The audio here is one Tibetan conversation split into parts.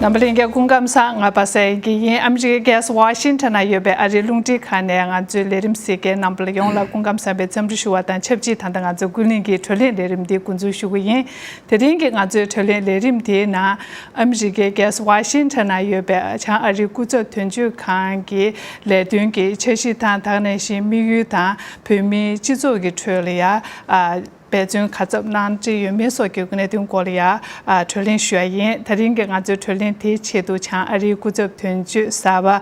རྣམ་པ་ལྷན་རྒྱས་སྐུ་ཁམས་གསང་སྔགས་པ་སེར་གྱི་དབྱིངས་ཨ་མི་རི་ཀའི་ཨ་ཝར་ཤིན་ཏྲ་ན་ཡོད་པའི་ཨ་རིའི་རླུང་འཕྲིན་ཁང་ནས་ང་ཚོའི་ལས་རིམ་སེར་སྐྱའི་རྣམ་པར་ཡོངས་ལ་སྐུ་ཁམས་བསམ་པའི་འཚམས་འདྲི་ཞུ་བ་དང་ཆབས་ཅིག་ད་ལྟ་ང་ཚོ་ཀུན་གླེང་གི་དྲོད་ལྷད་ལས་རིམ་འདི་འགོ་འཛུགས་ཞུ་གི་ཡིན། དེ་རིང་གི་ང་ཚོའི་དྲོད་ལྷད་ལས་རིམ་དེའི་ནང། ཨ་མི་རི་ཀའི་ཨ་ཝར་ཤིན་ཏྲ་ན་ཡོད་པའི་བྱང་ཨ་རིའི་སྐུ་ཚབ་དོན་གཅོད་ཁང་གི་ལས་དོན་གྱི་འཆར་གཞི་དང་དག་གནས་བཞིན་དམིགས་ཡུལ་དང་བོད་མིའི་སྤྱི་ཚོགས་ཀྱི་ཁྲོད་ལ་ཡ། འབད་བརྩོན་ག་ཚབ་གནང་ཀྱི་ཡོད་མེད་སོགས་ཀྱི་གནད་དོན་སྐོར་ལ་ཡང་གྲོས་གླེང་ཞུ་བ་ཡིན། ད་རིང་གི་ང་ཚོའི་གྲོས་གླེང་དེའི་ཆེད་དུ་བྱང་ཨ་རིའི་སྐུ་ཚབ་དོན་གཅོད་གསར་པ།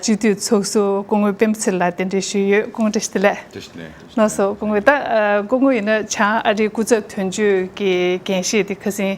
སྤྱི་འཐུས་ཚོགས་གཙོ་སྐུ་ངོ་སྤེན་ཚེ་ལགས་གདན་འདྲེན་ཞུས་ཡོད་སྐུ་ངོ་བཀྲ་ཤིས་བདེ་ལེགས། ནོར་སོ་སྐུ་ངོ། ད་སྐུ་ངོ་ཡིན་ན་བྱང་ཨ་རིའི་སྐུ་ཚབ་དོན་གཅོད་ཀྱི་འགན་བཞེས་དེ་ཁ་སིན།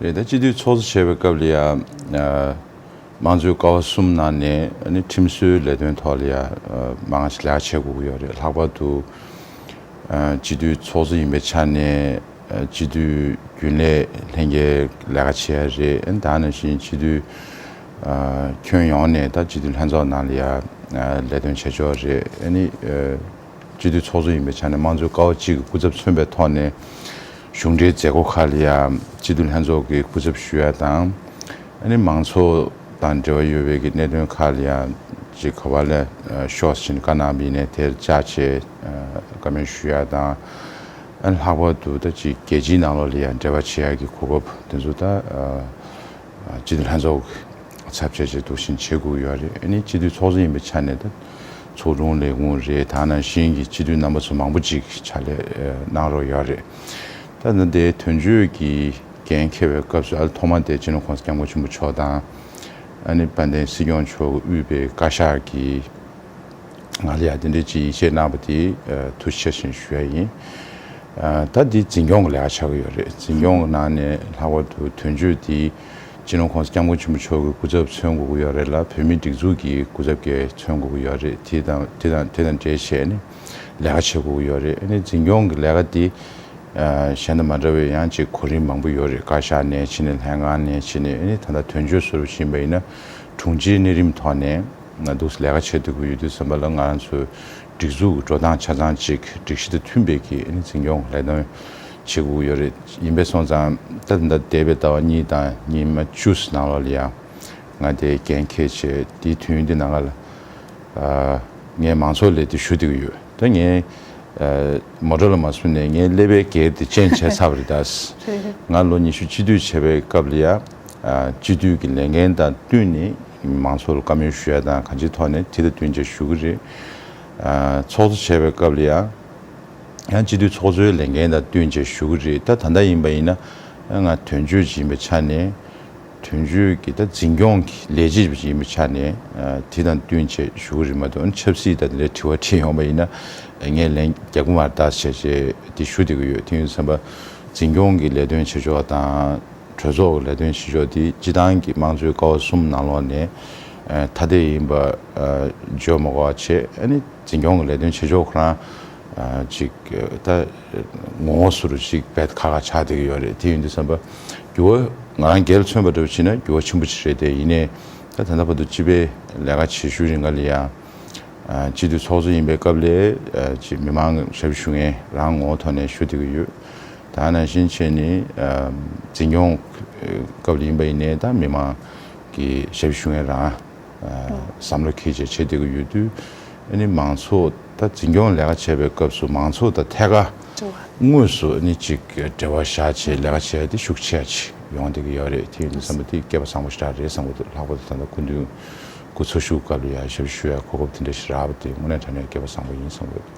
རེད་དེ། སྤྱི་འཐུས་ཚོགས་གཙོ་བྱས་པའི་སྐབས་ལ་ཡང། དམངས་གཙོའི་ཀ་བ་གསུམ་ནང་ནས་ཁྲིམས་སྲོལ་ལས་དོན་ཐོག་ལ་ཡང་མ་ང་ཞིག་ལེགས་ཆ་བྱས་དགོས་ཀྱི་ཡོད་རེད། ལྷག་པར་དུ། སྤྱི་འཐུས་ཚོགས་གཙོ་ཡིན་པའི་ཆ་ནས་སྤྱི་འཐུས་རྒྱུན་ལས་ལྷན་རྒྱས་ལས་ཀ་བྱེད་ཡ་རེད། ད་ནང་བཞིན་སྤྱི་འཐུས་ཁྱོན་ཡོངས་ནས་ད་སྤྱི་འཐུས་ལྷན་ཚོགས་ནང་ལ་ཡང་ལས་དོན་བྱེད་ཆོག་རེད། སྤྱི་འཐུས་ཚོགས་གཙོ་ཡིན་པའི་ཆ་ནས་དམངས་གཙོའི་ཀ་བ་གཅིག་གི་སྐུ་ཚབ་མཚོན་པའི་ཐོག་ནས། གཞུང་འབྲེལ་མཛད་སྒོ་ཁག་ལ་ཡང་སྤྱི་འཐུས་ལྷན་ཚོགས་ཀྱི་སྐུ་ཚབ་ཞུ་ཡ་དང། ཨ་ནི་མང་ཚོགས་དང་འབྲེལ་བ་ཡོད་པའི་གི་གནད་དོན་ཁག་ལ་ཡང་ཅི་ག་བ་ལས་ཤོག་ཕྱིན་བཀའ་གནང་བས་ནས་དེར་བཅའ་བྱས་བཀའ་མོལ་ཞུ་ཡ་དང། ཨ་ནི་ལྷག་པར་དུ་ད་ཅི་རྒྱལ་སྤྱིའི་ནང་ལོགས་ལ་ཡང་འབྲེལ་བ་བྱེད་ཡ་གི་གོ་སྐབས་དེ་ཚོ་ད། སྤྱི་འཐུས་ལྷན་ཚོགས་ཀྱི་ཚབ་བྱས་རྗེས་དོགས་ཞེན་བྱེད་དགོས་ཡོད་རེད་ཨ་ནི་སྤྱི་འཐུས་ཚོགས་གཙོ་ཡིན་པའི་ཆ་ནས་ད་ཚོགས་དྲུང་ལས་ཁུངས་རེད་ད་ནང་བཞིན་གྱི་སྤྱི་འཐུས་རྣམ་པ་ཚོ་མང་པོ་ཅིག་ཕྱག་ལས་གནང་རོགས་ཡོད་རེད་ད། ད་དེའི་དོན་གཅོད་ཀྱི་འགན་འཁྱེར་བའི་སྐབས་སུ་ཨ་ལ་ཐོག་མར་དེ་སྤྱི་ནོར་ཁོངས་སུ་སྐྱབས་མགོན་ཆེན་པོ་མཆོག་དང། ཨ་ནི་དཔལ་ལྡན་སྲིད་སྐྱོང་མཆོག་གི་དབུས་པའི་བཀའ་ཤག་གི། ང་ལ་ཡང་དེ་འདྲའི་ཅིག་ཡིད་ཆེས་གནང་བ་དེ་ཐུགས་ཆེ་བཞིན་ཞུ་ཡ་ཡིན། ད་འདི་འཛིན་སྐྱོང་གི་ལས་ཀ་ཆགས་ཀྱི་ཡོད་རེད་འཛིན་སྐྱོང་གི་ནང་ནས་ལྷག་པར་དུ་དོན་གཅོད་དེ་སྤྱི་ནོར་ཁོང་ས་སྐྱབས་མགོན་ཆེན་པོ་མཆོག་གི་སྐུ་ཚབ་མཚོན་དགོས་ཀྱི་ཡོད་རེད་ལ་བོད་མིའི་སྒྲིག་འཛུགས་ཀྱི་སྐུ་ཚབ་ཀྱེ་མཚོན་དགོས་ཀྱི་ཡོད་རེད་དེ་དང་དེ་དང་དེ་དང་འདྲེས་བྱས་ནས་ལས་ཀ་བྱེད་དགོས་ཀྱི་ཡོད་རེད་ནི་འཛིན་སྐྱོང་གི་ལས་ཀ་དེ་གཞན་དང་མ་འདྲ་བའི་ཡང་ཅིག་གོ་རིམ་མང་པོ་ཡོད་རེད་བཀའ་ཤག་ནས་ཕྱིན་ནས་ལྷན་ཁང་ནས་ཕྱིན་ནས་ནི་ད་ལྟ་དོན་གཅོད་ཟུར་བཞིན་པ་ཡིན་ན་དྲུང་ཆེའི་གནས་རིམ་ཐོག་ནས། ང་འདུག་སའི་ལས་ཀ་བྱེད་འདོད་ཀྱི་ཡོད་དུས་ཟེར་བ་ལ་ང་རང་ཚོའི་སྒྲིག་འཛུགས་ཀྱི་འགྲོ་སྟངས་ཆ་ཚང་ཅིག་སྒྲིག་གཞི་དང་མཐུན་པའི་གིས་ཨིན་འཛིན་སྐྱོང་ལས་དོན་བྱེད་དགོས་ཀྱི་ཡོད་རེད་ཡིན་པས་སོང་ཙང་ད་ལྟ་འདས་པའི་ཟླ་བ་གཉིས་དང་ཉི་མ་བཅུ་ཟིན་ནང་ལོགས་ལ་ཡང་ང་དེ་གན་ཁེ་བྱས་དེའི་དུས་ཡུན་དེ་ནང་ལ་ངས་མང་ཚོགས་ལས་དེ་ཞུ་འདོད་ཀྱི་ཡོད་དོན་ངས་མོ་ཏྲ་ལ་མ་སོན་ནས་ངའི་ཀླད་པའི་གེགས་དེ་རྐྱེན་བྱས་ཚར་བ་རེད་ད། ང་ལོ་ཉི་ཤུ་གཅིག་སྡུད་བྱས་པའི་སྐབས་ལ་ཡང་སྤྱི་འཐུས་ཀྱི་ལས་འགན་དང་བསྟུན་ནས་མང་ཚོགས་ལ་བཀའ་མོལ་ཞུ་ཡ་དང་གང་ཅིའི་ཐོག་ནས་དེ་དང་བསྟུན་བྱ་ཞུ་གི་རེད། ཚོགས་གཙོ་བྱས་པའི་སྐབས་ལ་ཡང། ཡང་སྤྱི་འཐུས་ཚོགས་གཙོའི་ལས་འགན་དང་བསྟུན་བྱ་ཞུ་གི་རེད། ད་ད་ལྟ་ཡིན་པ་ཡིན་ན། ང་དོན་གཅོད་ཅིག་ཡིན་པའི་ཆ་ནས། དོན་གཅོད་ཀྱི་ད་འཛིན་སྐྱོང་གི་ལས་བྱེད་ཅིག་ཡིན་པའི་ཆ་ནས། དེ་དང་བསྟུན་བྱ་ཞུ་གི་རེད་མ་གཏོགས། ཆབ་སྲིད་ད་དེ་འདྲའི་དྲི་བ་དྲིས་ཡོང་པ་ཡིན་ན། ངས་ལན་རྒྱག་གི་མ་རེད་ད་བྱས་རྗེས་དེ་ཞུ་བསྡད་ཀྱི་ཡོད་དེ་ཡིན་ཟེར་ན། འཛིན་སྐྱོང་གི་ལས་དོན་བྱེད་ཕྱོགས་དང། གྲོས་ཚོགས་ཀྱི་ལས་དོན་བྱེད་ཕྱོགས་དེ་སྤྱི་བཏང་གི་དམངས་གཙོའི་ཀ་བ་གསུམ་ནང་ལོགས་ནས་ཐ་དད་ཡིན་པ་བརྗོད་མ་གོ་བ་ཆེ། འཛིན་སྐྱོང་གི་ལས་དོན་བྱེད་ཕྱོགས་ཁོ་རང་ཅིག་ད་ངོ་ངོ་སུ་རུ་ཅིག་བད་ཁ་ཁ་ཆགས་བསྡད་ཀྱི་ཡོད་རེད་དེ་ཡིན་དུས་བསམ་པ། རྒྱུ་བ་ང་རང་འགལ་མཚོན་པ་འདྲ་བོ་བྱེད་ན་རྒྱུ་བ་ཆེན་པོ་ཅིག་རེད་དེ་ཡིན་ནས་ད་དེ་འདྲ་བར་དུ་སྤྱི་པའི་ལས་ཀ་བྱེད་ཤུལ་རེ་འགའ་ལ་ཡང་སྤྱི་འཐུས་ཚོགས་གཙོ་ཡིན་པའི་སྐབས་ལས་མི་མང་ཞབས་ཞུ་ངས་རང་ངོ་ཐོག་ནས་ཞུ་བསྡད་ཀྱི་ཡོད། ད་ནང་བཞིན་ཆེས་ནི་འཛིན་སྐྱོང་སྐབས་ཡིན་པ་ཡིན་ནའི་ད་མི་མང་གི་ཞབས་བཞུ་ངན་རང་བསམ་བློ་ཁེལ་བྱས་བྱེད་བསྡད་ཀྱི་ཡོད་དུས་ནི་མང་ཚོགས་ད་འཛིན་སྐྱོང་ལས་ཀ་བྱས་པའི་སྐབས་སུ་མང་ཚོགས་ད་ཐད་ཀ་དངོས་སུ་ནི་ཅིག་འབྲེལ་བ་བཞག་བྱས་ལས་ཀ་བྱས་ཏེ་ཤུགས་ཆེ་ཡ་ཆེ་ཡོང་བསྡད་ཀྱི་ཡོད་རེད་དེ་ཡིན་དུས་བསམ་པ་དེ་སྐྱེས་པ་བཟང་པོ་ཞིག་རག་རེད་བསམ་གོ་ལྷག་པར་དུ་ད་ལྟ་སྐུ་མདུན་སྐུ་འཚོ་བཞུགས་སྐབས་ལ་ཡང་ཞབས་བཞུ་ཡ་གོ་སྐབས་དེ་འདྲ་ཞིག་རག་པ་དེ་དངོས་གནས་དྲན་ནས་སྐྱེས་པ་བཟང་པོ་ཡིན་བསམ་གོ།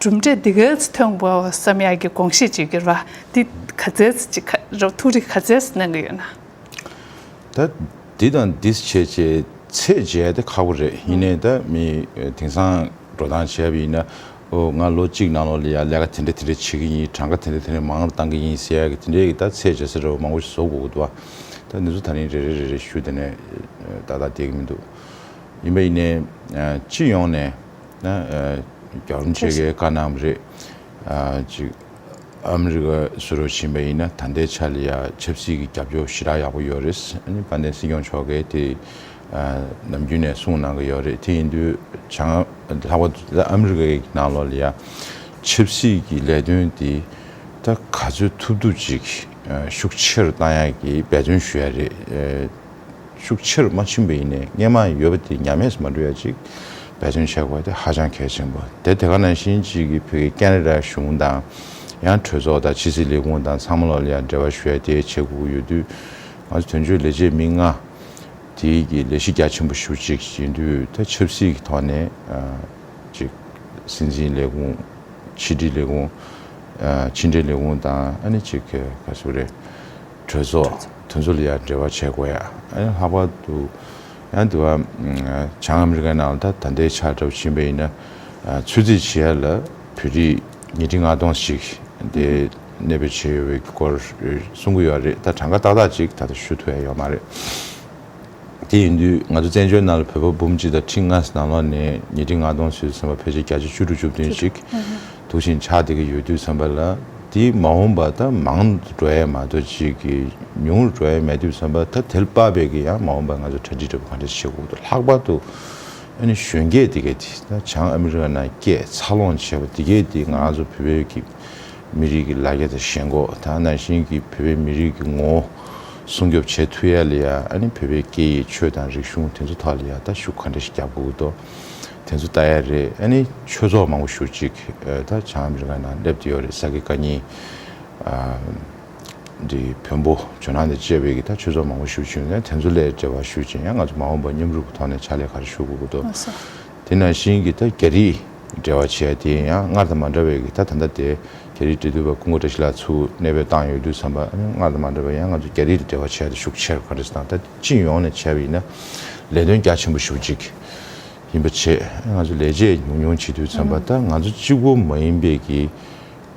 གྲུབ་འབྲས་འདི་གའི་ཐོན་པ་བསམ་ཡག་གི་དགོངས་བཞེས་བྱེད་རྒྱུར་འདི་ག་རྩལ་ཅིག་ཁ་རོག་ཐུགས་རེ་ག་རྩལ་སུ་གནང་གི་ཡོད་ན། ད་འདི་དང་འདི་བྱེད་ཅེས་ཚད་འཇལ་དེ་ཁག་པོ་རེད་ཡིན་ནའི་ད་མི་དེང་སང་འགྲོ་སྟངས་བྱས་པ་ཡིན་ན་ཨོ་ང་ལོ་གཅིག་ནང་ལོགས་ལ་ཡང་ལས་ཀ་དེ་འདྲ་དེ་འདྲ་བྱེད་ཀྱི་ཡིན་གྲངས་ཀ་དེ་འདྲ་དེ་འདྲ་མང་བཏང་གི་ཡིན་ཟེར་ཡག་གི་དེ་འདྲའི་གི་ད་ཚད་འཇལ་ཟེར་བ་མང་པོ་ཞིག་བཟོ་དགོས་གི་འདུག་བ་ད་འདི་ཚོ་ད་རིང་རེ་རེ་རེ་རེ་ཞུ་དེ་ནས་ཏག་ཏག་བསྡད་གི་མི་འདུག་ཡིན་པ་ཡིན་ནའི་སྤྱི་ཡོངས་ནས། རྒྱག་རིམ་བྱེད་མཁན་དཀའ་གནང་བ་རེད། གཅིག་ཨ་མི་རི་ཀ་སུ་རུ་ཕྱིན་པ་ཡིན་ན་ད་ལྟའི་ཆར་ཡང་ཆབ་སྲིད་ཀྱི་རྒྱབ་སྐྱོར་ཞེ་དྲག་ཡག་པོ་ཡོད་རེད། དཔལ་ལྡན་སྲིད་སྐྱོང་མཆོག་གིས་དེ་ནམ་རྒྱུན་ནས་གསུངས་གནང་གི་ཡོད་རེད། དེ་ཡིན་དུས་བྱང་ལྷག་པ་དུ་ཨ་མི་རི་ཀའི་ནང་ལོགས་ལ་ཡང་ཆབ་སྲིད་ཀྱི་ལས་དོན་དེ་ད་ག་ཚོད་ཐུབ་ཐུབ་ཅིག་ཤུགས་ཆེ་རུ་བཏང་ཡག་གི་འབད་བརྩོན་ཞུ་ཡག་རེད། ཤུགས་ཆེར་མ་ཕྱིན་པ་ཡིན་ནས་སྔས་མ་ཡོད་པ་དེ་ཉམས་དམས་སུ་མ་འགྲོ་ཡ་ཅིག་འབད་བརྩོན་བྱེད་དགོས་པ་དེ་ཧ་ཅང་གལ་ཆེན་པོ་དེ་དེ་ག་ནང་བཞིན་གཅིག་གིས་བོད་ཀྱི་ཀན་རི་ར་གཞུང་དང། ཡང་གྲོས་ཚོགས་དང་ཕྱི་སྲིད་ལས་ཁུངས་དང་ཚང་མ་ལོག་ལེ་ཡང་འབྲེལ་བ་ཞུ་ཡ་དེའི་ཆེད་སྒུག་གི་ཡོད་དུས། ང་ཚོ་དོན་གཅོད་ལས་བྱེད་མི་ལྔ། དེ་གིས་ལས་གཞི་རྒྱ་ཆེན་པོ་ཞུ་ཅིག་ཡིན་དུས་ད་ཆབ་སྲིད་ཀྱི་ཐོག་ནས་ཅིག་སྲིད་འཛིན་ལས་ཁུངས། ཕྱི་དྲིལ་ལས་ཁུངས། ཕྱི་འབྲེལ་ལས་ཁུངས་དང་ཨ་ནི་ཅིག་ག་ཚོད་རེད། གྲོས་ཚོགས་དོན་གཙོ་ལ་ཡང་འབྲེལ་བ་བྱེད་དགོས་ཡ། ལྷག་པར་དུ་ཡང་དེ་བ་བྱང་ཨ་མི་རི་ཀའི་ནང་ད་ད་འདའི་ཆགས་གྲབས་ཕྱིན་པ་ཡིན་ན་ཚོད་རྩིས་བྱེད་ཡ་ལ་བོད་རིགས་ཉིས་ཁྲི་ལྔ་སྟོང་ཞིག་འདའི་གནས་པའི་བྱེད་ཡོད་བའི་སྐོར་གསུང་གི་ཡོད་རེད་ད་གྲངས་ཀ་ཏག་ཏག་ཅིག་ད་ད་ཞུ་ཐུབ་ཡ་ཡོད་མ་རེད། དེ་ཡིན་དུས་ང་ཚོ་བཙན་བྱོལ་ནང་ལ་བོད་པ་འབུམ་གཅིག་དང་ཁྲི་ལྔ་ནང་ལོགས་ནས་ཉིས་ཁྲི་ལྔ་སྟོང་ཚུད་ཟིན་པ་ཕལ་ཆེར་བརྒྱ་ཆ་བཅུ་དྲུག་བཅུ་བདུན་ཞིག་དུག་ཤིང་ཆགས་བསྡད་ཀྱི་ཡོད་དུས་བསམ་པ་ལ་དེ་མ་འོངས་པ་ད་མང་དུ་འགྲོ་ཡས་མ་གཏོགས་གཅིག་གི་ཉུང་རུ་འགྲོ་ཡས་མེད་དུས་བསམ་པ་ད་དལ་དཔའ་བས་ཀྱི་ཡང་མ་འོངས་པ་ང་ཚོ་གྲ་འགྲིག་འདྲ་པོ་ག་འདྲ་བྱེད་འོག་ཏུ་ལྷག་པར་དུ་ཨ་ནི་གཞོན་སྐྱེས་དེ་གས་དེ་ད་བྱང་ཨ་མི་རི་ཀ་ནང་སྐྱས་འཚར་ལོངས་བྱས་པ་དེ་གས་དེ་ང་ཚོ་བོད་པའི་ཀྱི། མི་རིགས་ཀྱི་ལ་རྒྱ་དང་ཞེན་ཁོག་དང་ནང་བཞིན་གྱི་བོད་པའི་མི་རིགས་ཀྱི་ངོ་བོ་སྲུང་སྐྱོབ་བྱས་ཐུབ་ཡ་ལ་ཡང་ཨ་ནི་བོད་པའི་སྐད་ཡིག་ཆོས་དང་རིག་གཞུང་དེ་ཚོ་ཐོག་ལ་ཡང་ད་ཤུགས་ག་འདྲ་ཞིག་རྒྱག་དགོས་དོ་དེ་ཚོ་ལྟ་ཡ་རེད་ཨ་ནི་ཆོས་ཚོགས་མང་པོ་ཞུ་ཅིག་ད་བྱང་མི་རིགས་ཁག་ནང་སླེབས་ཏེ་ཡོད་རེད་ས་དགེ་བཀའ་རྙིང་འདི་བོན་པོ་ཇོ་ནང་དང་བཅས་པའི་གི་ད་ཆོས་ཚོགས་མང་པོ་ཞུ་ཅིག་ན་དེ་ཚོ་ལས་འབྲེལ་བ་ཞུ་ཅིག་ཡང་ང་ཚོ་མ་འོངས་པ་མཉམ་རུབ་ཀྱི་ཐོག་ནས་ཕྱག་ལས་ག་རེ་ཞུ་དགོས་དགོས་དོ། དེས་ན་གཞན་གྱི་ད་རྒྱ་རིགས་འབྲེལ་བ་བྱས་དེ་ཡང་སྔར་དང་མ་འདྲ་བའི་གི་ད་ད་ལྟ་དེ་རྒྱ་རིགས་འབྲེལ་དུས་བ་ཀུན་གོ་བཀྲ་ཤིས་ལགས་ཚུ་གནས་པའི་སྟངས་ཡོད་དུས་བསམ་པ་སྔར་དང་མ་འདྲ་བའི་ཡང་ང་ཚོ་རྒྱ་རིགས་འབྲེལ་བ་བྱས་དེ་ཤུགས་ཆེར་ག་རེ་སྟངས་ད་སྤྱི་ཡོངས་ནས་བྱས་པ་ཡིན་ན་ལས་དོན་རྒྱ་ཆེན་པོ་ཞུགས་གཅིག་ཡིན་པ་བྱས་ང་ཚོ་ལས་བྱེད་ཉུང་ཉུང་བྱེད་དུས་བསམ་པ་ད་ང་ཚོ་གཅིག་པོ་མ་ཡིན་པའི་གི་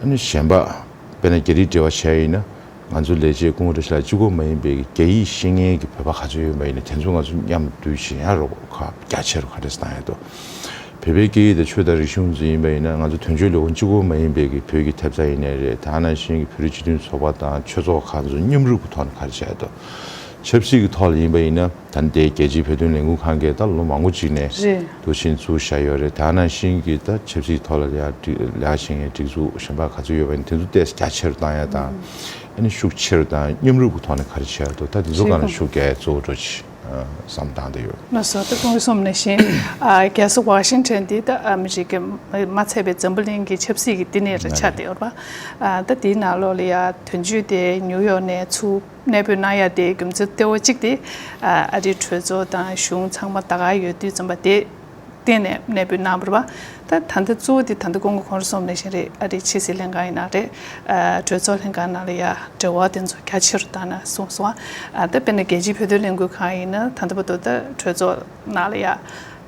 གཞན་པ། དཔེར་ན་རྒྱ་རིགས་འབྲེལ་བ་ཆགས་ཡིན་ན་ང་ཚོ་ལས་བྱེད་སྐུ་ངོ་འདྲ་ཞིག་ལ་སྤྱི་ཁོག་མ་ཡིན་པའི་རྒྱ་ཡིག་ཤེས་མཁན་གྱི་བོད་པ་ག་ཚོད་ཡོད་མ་ཡིན་ན་དེ་ཚོ་ང་ཚོ་མཉམ་འདུས་བྱེད་ཡང་རོགས་ཁ་རྒྱ་ཆེ་རུ་ག་རེ་གཏང་ཡོད་དོ། བོད་པའི་སྐད་ཡིག་དང་ཆོས་དང་རིག་གཞུང་གཙོ་ཡིན་པ་ཡིན་ན་ང་ཚོ་དོན་གཅོད་ལས་ཁུངས་སྤྱི་ཁོག་མ་ཡིན་པའི་གི་བོད་ཀྱི་ཐེབས་རྩ་ཡིན་ནའི་རེད་ད་ནང་བཞིན་གྱི་བོད་རིགས་སྤྱི་མཐུན་ཚོགས་པ་དང་ཆོས་ཚོགས་ཁ་ཚོ་མཉམ་རུབ་གི་ཐོག་ནས་ག་རེ་བྱ་ཡོད་དོ། ཆབ་སྲིད་ཀྱི་ཐོག་ལ་ཡིན་པ་ཡིན་ན། ད་ལྟའི་རྒྱལ་སྤྱིའི་བོད་དོན་ལས་འགུལ་ཁང་གིས་ད་ལོ་མང་པོ་ཅིག་ནས་དུ་ཕྱིན་ཚུལ་བཤད་ཡོད་རེད་དེའང་ནང་བཞིན་གྱི་ད་ཆབ་སྲིད་ཐོག་ལ་ལེགས་ཞེན་ཡང་སྒྲིག་འཛུགས་གཞན་པ་ག་ཚོད་ཡོད་པ་ཡིན་དེ་ཚོ་ཏེས་རྒྱ་ཆེ་རུ་བཏང་ཡ་དང་ཨ་ནི་ཤུགས་ཆེ་རུ་དང་མཉམ་རུབ་ཀྱི་ཐོག་ནས་ག་རེ་བྱས་ཡ་འདུག་ད་དེ་ཚོ་གང་ལ་ཤུགས་རྒྱས་གཙོ་བོ་འགྲོ་ཅི་བསམ་བཏང་བསྡད་ཡོད། ལོ་སོ་དང་དགུ་གསུམ་ནས་བཞིན་རྒྱལ་ས་ཝ་ཤིང་ཐོན་དེ་ད་ཨ་མི་རི་ཀས་མ་ཚད་པའི་འཛམ་བུ་གླིང་གི་ཆབ་སྲིད་ཀྱི་བསྟི་གནས་རེ་ཆགས་བསྡད་ཡོད་པ། ད་དེའི་ནང་ལོགས་ལ་ཡ་དོན་གཅོད་དེ་ཉུའུ་ཡོག་ནས་ཚུགས། གནས་སྤོས་གནང་ཡ་དེའི་རྒྱུ་མཚན་གཏེ་བོ་གཅིག་དེ་ཨ་རིའི་གྲོས་ཚོགས་དང་གཞུང་ཚང་མ་ད་ག་ཡོད་དུས་རྩོམ་པ་དེ་བསྟེན་ནས་གནས་སྤོས་གནང་བར་བ་ད་ད་ལྟ་གཙོ་བོ་དེ་ད་ལྟ་ཀོང་གོ་གོང་རུ་སོང་མེད་བཞིན་རེད་ཨ་རིའི་ཕྱི་སྲིད་ལྷན་ཁང་ཡིན་ན་རེད་གྲོས་ཚོགས་ལྷན་ཁང་ནང་ལ་ཡ་འབྲེལ་བ་དེ་ཚོ་རྒྱ་ཆེ་རུ་བཏང་ན་གསུངས་སོང་ད་དཔེར་ན་རྒྱལ་སྤྱིའི་བོད་དོན་ལས་འགུལ་ཁང་ཡིན་ན་ད་ལྟ་བ་དོ་ད་གྲོས་ཚོགས་ནང་ལ་ཡ།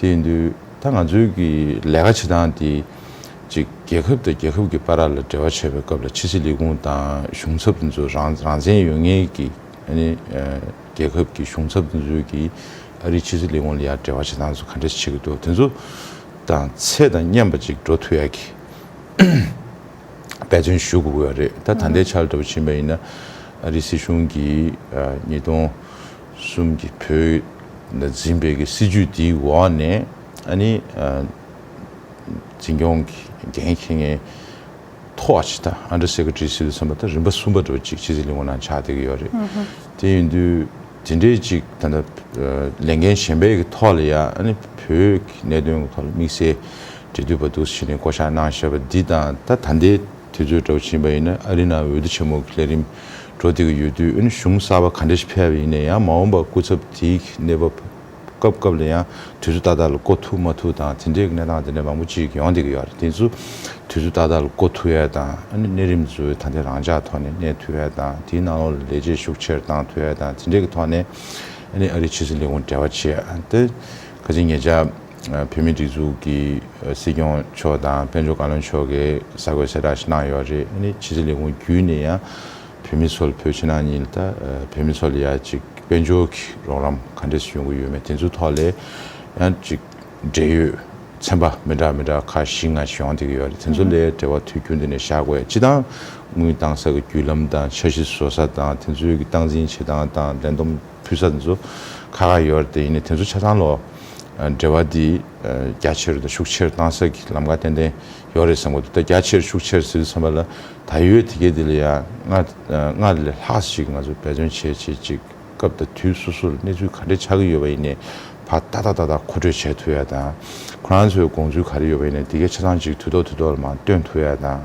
དེ་འདུལ་ད་ང་ཚོའི་གི་ལས་ཀ་བྱེད་སྟངས་དེ་གཅིག་རྒྱལ་ཁབ་དང་རྒྱལ་ཁབ་གི་པ་ར་ལ་འབྲེལ་བ་བྱེད་པའི་སྐབས་ལ་ཕྱི་སྲིད་ལས་ཁུངས་དང་གཞུང་ཚབ་དེ་ཚོ་རང་རང་བཙན་ཡོད་ངེས་གི་ཨནི་རྒྱལ་ཁབ་གི་གཞུང་ཚབ་དེ་ཚོའི་གི་ཨ་རིའི་ཕྱི་སྲིད་ལས་ཁུངས་ལ་ཡར་འབྲེལ་བ་བྱེད་སྟངས་དེ་ཚོ་ག་འདྲ་ཞིག་བྱེད་གི་འདུག་དེ་ཚོ་དང་ཚད་དང་མཉམ་པ་ཅིག་འགྲོ་ཐུབ་ཡག་གི་འབད་བརྩོན་ཞུ་དགོས་གི་ཡོད་རེད་ད་ད་ལྟའི་ཆར་འདྲ་པོ་ཕྱིན་པ་ཡིན་ན་ཨ་རིའི་སྲིད་གཞུང་གི་ཉིས་སྟོང་གསུམ་གྱི་བོད་ལ་འཛིན་པའི་གི་སྲིད་ཇུས་དེའི་འོག་ནས་ཨ་ནི། འཛིན་སྐྱོང་གི་འགན་འཁྱེར་མཁན་ཐོག་ཨ་ཕྱི་ད Under Secretary Civil གསུམ་པ་ད་རིམ་པ་གསུམ་པ་འགྲོ་ཅིག་ཕྱི་སྲིད་ལས་ཁུངས་ནང་ཆགས་བསྡད་གི་ཡོད་རེད། དེ་ཡིན་དུས་དེ་འདྲའི་ཅིག་ད་ལྟ་ལས་འགན་གཞན་པའི་གི་ཐོག་ལ་ཡ་ཨ་ནི་བོད་ཀྱི་གནད་དོན་གི་ཐོག་ལ་དམིགས་བསལ་འབྲེལ་མཐུད་པ་འདུག་ཕྱི་ནས་བསྐོ་བཞག་གནང་བཞེད་པ་འདི་དང་ད་ད་ལྟའི་དུས་ཚོད་འདྲ་བོ་ཕྱིན་པ་ཡིན་ན་ཨ་རི་ནང་འོས་བསྡུ་ཆེན་མོ་གི་ལས་རིམ། འགྲོ་འདི་གི་ཡོད་དུས་གཞུང་གསར་པ་ག་འདྲ་ཞིག་ཕལ་བ་ཡིན་ན་ཡང་མ་འོངས་པར་སྐུ་ཚབ་དེའི་གནས་བབ་སྐབས་སྐབས་ལ་ཡང་དུས་ཚོད་ཏག་ཏག་ལ་བསྐོ་ཐུབ་མ་ཐུབ་དང་དེ་འདྲའི་གནས་སྟངས་དེ་འདྲ་མང་པོ་ཅིག་ཡོང་འདི་གི་ཡོད་དེ་ཚོ་དུས་ཚོད་ཏག་ཏག་ལ་བསྐོ་ཐུབ་ཡས་དང་གནས་རིམ་ཚོའི་ཐ་དད་རང་འཇགས་ཐོག་ནས་གནས་ཐུབ་ཡས་དང་དེའི་ནང་ལོགས་ལ་ལས་བྱེད་ཤུགས་ཆེར་བཏང་ཐུབ་ཡས་དང་དེ་འདྲའི་གི་ཐོག་ནས་ཨ་རིའི་ཕྱི་སྲིད་ལས་ཁུངས་འབྲེལ་བ་བྱས་ཏེ། ཁ་ཅིག་ངེད་ཅག་བོད་མིའི་སྒྲིག་འཛུགས་ཀྱི་སྲིད་སྐྱོང་མཆོག་དང་དཔལ་འབྱོར་བཀའ་བློན་མཆོག་གིས་གསར་འགོད་གསལ་བསྒྲགས་ཤིག་གནང་ཡོད་རེད། ཨ་ནི་ཕྱི་ཚེས་ལས་ཁུངས་བརྒྱུད་ནས་ཡང་བོད་མི་ཚོ་ལ་བོད་ཕྱི་ནང་གཉིས་ལ་ད་བོད་མི་ཚོ་ལ་ཡང་ཅིག་དཔལ་འབྱོར་གྱི་རོགས་རམ་ག་འདྲས་སུ་ཡོང་གི་ཡོད་མེད་དེ་ཚོའི་ཐོག་ལས་ཡང་ཅིག་འབྲེལ་ཡོད་ཚན་པ་མི་འདྲ་མི་འདྲ་ཁག་བཞི་ལྔ་ཞིག་ཡོང་སྡད་ཀྱི་ཡོད་རེད་དེ་ཚོ་ལས་འབྲེལ་བ་དུས་རྒྱུན་འདི་ནས་བྱ་དགོས་སྤྱི་དང་དངུལ་གཏང་ས་གི་བརྒྱུད་ལམ་དང་འཆར་གཞི་བཟོ་ས་དང་དེ་ཚོའི་གི་སྟངས་འཛིན་བྱེད་སྟངས་དང་ལས་བསྡོམས། བུ་ས་འདི་ཚོ་ཁ་ཁ་ཡོད་རེད་དེ་ཡིན་ནས་དེ་ཚོ་ཆ་ཚང་ལ་འབྲེལ་བ་འདི་རྒྱ་ཆེར་དང་ཤུགས་ཆེར་གཏང་ས་ཀྱི་ལམ་ཁ་ཏན་ཏན་ཡོད་རེད་བསམ་གོ་ད་རྒྱ་ཆེར་ཤུགས་ཆེར་ཟེར་བསམ་པ་ལ་ད་ཡོད་དེ་གས་དེ་ལ་ཡང་སྔར་ལས་ལྷག་ཞིག་ང་ཚོ་འབད་བརྩོན་བྱེད་བྱེད་ཅིག་སྐབས་དང་དུས་སོ་སོར་གནས་ཚུལ་ག་འདྲ་ཆགས་ཀྱི་ཡོད་པ་ཡིན་ནས་བར་ཏག་ཏག་ཏག་ཏག་གོ་འཕྲོད་བྱས་ཐུབ་ཡ་དང་ཁོ་རང་ཚོའི་དགོངས་ཚུལ་ག་རེ་ཡོད་པ་ཡིན་ནས་དེ་གས་ཆ་ཚང་ཅིག་དུས་ཐོག་དུས་ཐོག་ལ་མང་སྟོན་ཐུབ་ཡ་དང།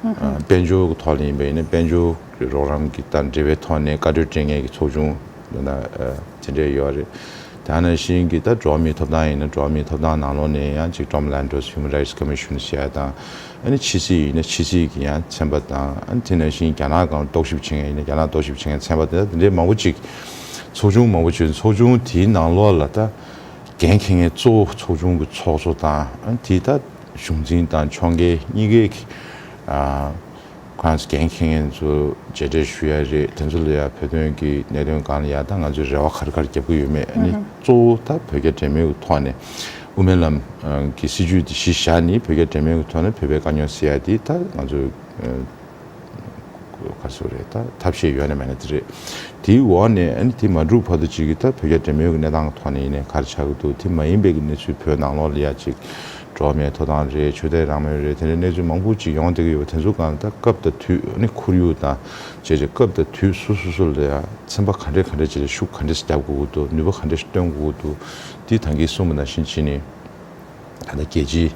དཔལ་འབྱོར་གྱི་ཐོག་ལ་ཡིན་པ་ཡིན་ན་དཔལ་འབྱོར་གྱི་རོགས་རམ་གྱི་དང་འབྲེལ་བའི་ཐོག་ནས་བཀའ་གྲོས་དྲན་ངེས་ཀྱི་ཚོགས་ཆུང་འདི་ན་དེ་འདྲས་ཡོད་རེད། དེ་ནང་བཞིན་གྱི་ད་འགྲོ་བ་མིའི་ཐོབ་ཐང་ཡིན་ན་འགྲོ་བ་མིའི་ཐོབ་ཐང་ནང་ལོགས་ནས་ཡང་གཅིག Tom Lantos Human Rights Commission ཞེས་ཡ་དང་ཨ་ནི་ཕྱི་སྲིད་ཡིན་ན་ཕྱི་སྲིད་ཀྱི་ཡང་ཚན་པ་དང་ཨ་ནི་དེ་ནང་བཞིན་རྒྱ་ནག་གང་རྟོག་ཞིབ་བྱེད་མཁན་ཡིན་ན་རྒྱ་ནག་རྟོག་ཞིབ་བྱེད་མཁན་ཚན་པ་དེ་འདྲས་མང་པོ་ཅིག་ཚོགས་ཆུང་མང་པོ་ཅིག་ཚོགས་ཆུང་དེའི་ནང་ལོགས་ལ་ད་འགན་འཁེལ་མཁན་གཙོ་བོ་ཚོགས་ཆུང་གི་ཚོགས་གཙོ་དང་ཨ་ནི་དེའི་ད། གཞུང་འཛིན་དང་ཕྱོགས་འགལ་གཉིས་ཀའི་ཁོང་གི་མཁན་ངན་ཚོ་རྗེས་དྲན་ཞུ་ཡ་རེད་དེ་ཚོ་ལ་ཡང་བོད་དོན་གྱི་གནད་དོན་གང་ལ་ཡང་ད་ང་ཚོས་རེ་བ་གར་གར་རྒྱབ་ཀྱི་ཡོད་མེད་ནི་གཙོ་བོ་ད་བོད་རྒྱ་འབྲེལ་མོལ་གྱི་ཐོག་ནས་དབུ་མའི་ལམ་གྱི་སྲིད་བྱུས་དེ་གཞི་བཞག་ནི་བོད་རྒྱ་འབྲེལ་མོལ་གྱི་ཐོག་ནས་བོད་པའི་དཀའ་རྙོག་སེལ་ཡ་དེ་ད་ང་ཚོས་ཁ་སུ་རེད་ད་ཐབས་ཤེས་ཡོད་ན་མེད་ན་དེ་རེད། དེའི་འོག་ནས་ཨཱ་དེ་མ་འགྲུབ་བར་དུ་ཅིག་གི་ད་བོད་རྒྱ་འབྲེལ་མོལ་གི་གནས་སྟངས་ཐོག་ནས་ཡིན་ནའི་གར་ཆག་གི་འདུག་དེ་མ་ཡིན་པའི་གི་གནས་ཚུལ་བོད་ནང་ལོག་ལི་ཡ་ཅིག་འགྲོ་མེད་ཐོ་ཐང་རེད་ཆོས་དད་རང་མོས་རེད་དེ་འདྲའི་གནས་ཚུལ་མང་པོ་ཅིག་ཡོང་བསྡད་གི་ཡོད་པ་དེ་ཚོ་ག་ད་སྐབས་དང་དུས་ཨཱ་ཁོར་ཡུག་དང་བཅས་ཅིག་སྐབས་དང་དུས་སུ་སུ་སུ་ལ་ཡང་ཚན་པ་ག་འདྲས་ག་འདྲས་ཅིག་ལ་ཤུགས་ག་འདྲས་བརྒྱབ་དགོས་ཀི་འདུག་ནུས་པ་ག་འདྲས་སྟོན་དགོས་ཀི་འདུག་འདི་ཐང་གིས་གསུངས་པ་ནང་བཞིན་བྱས་ནས། ད་ལྟ་རྒྱལ་སྤྱིའི་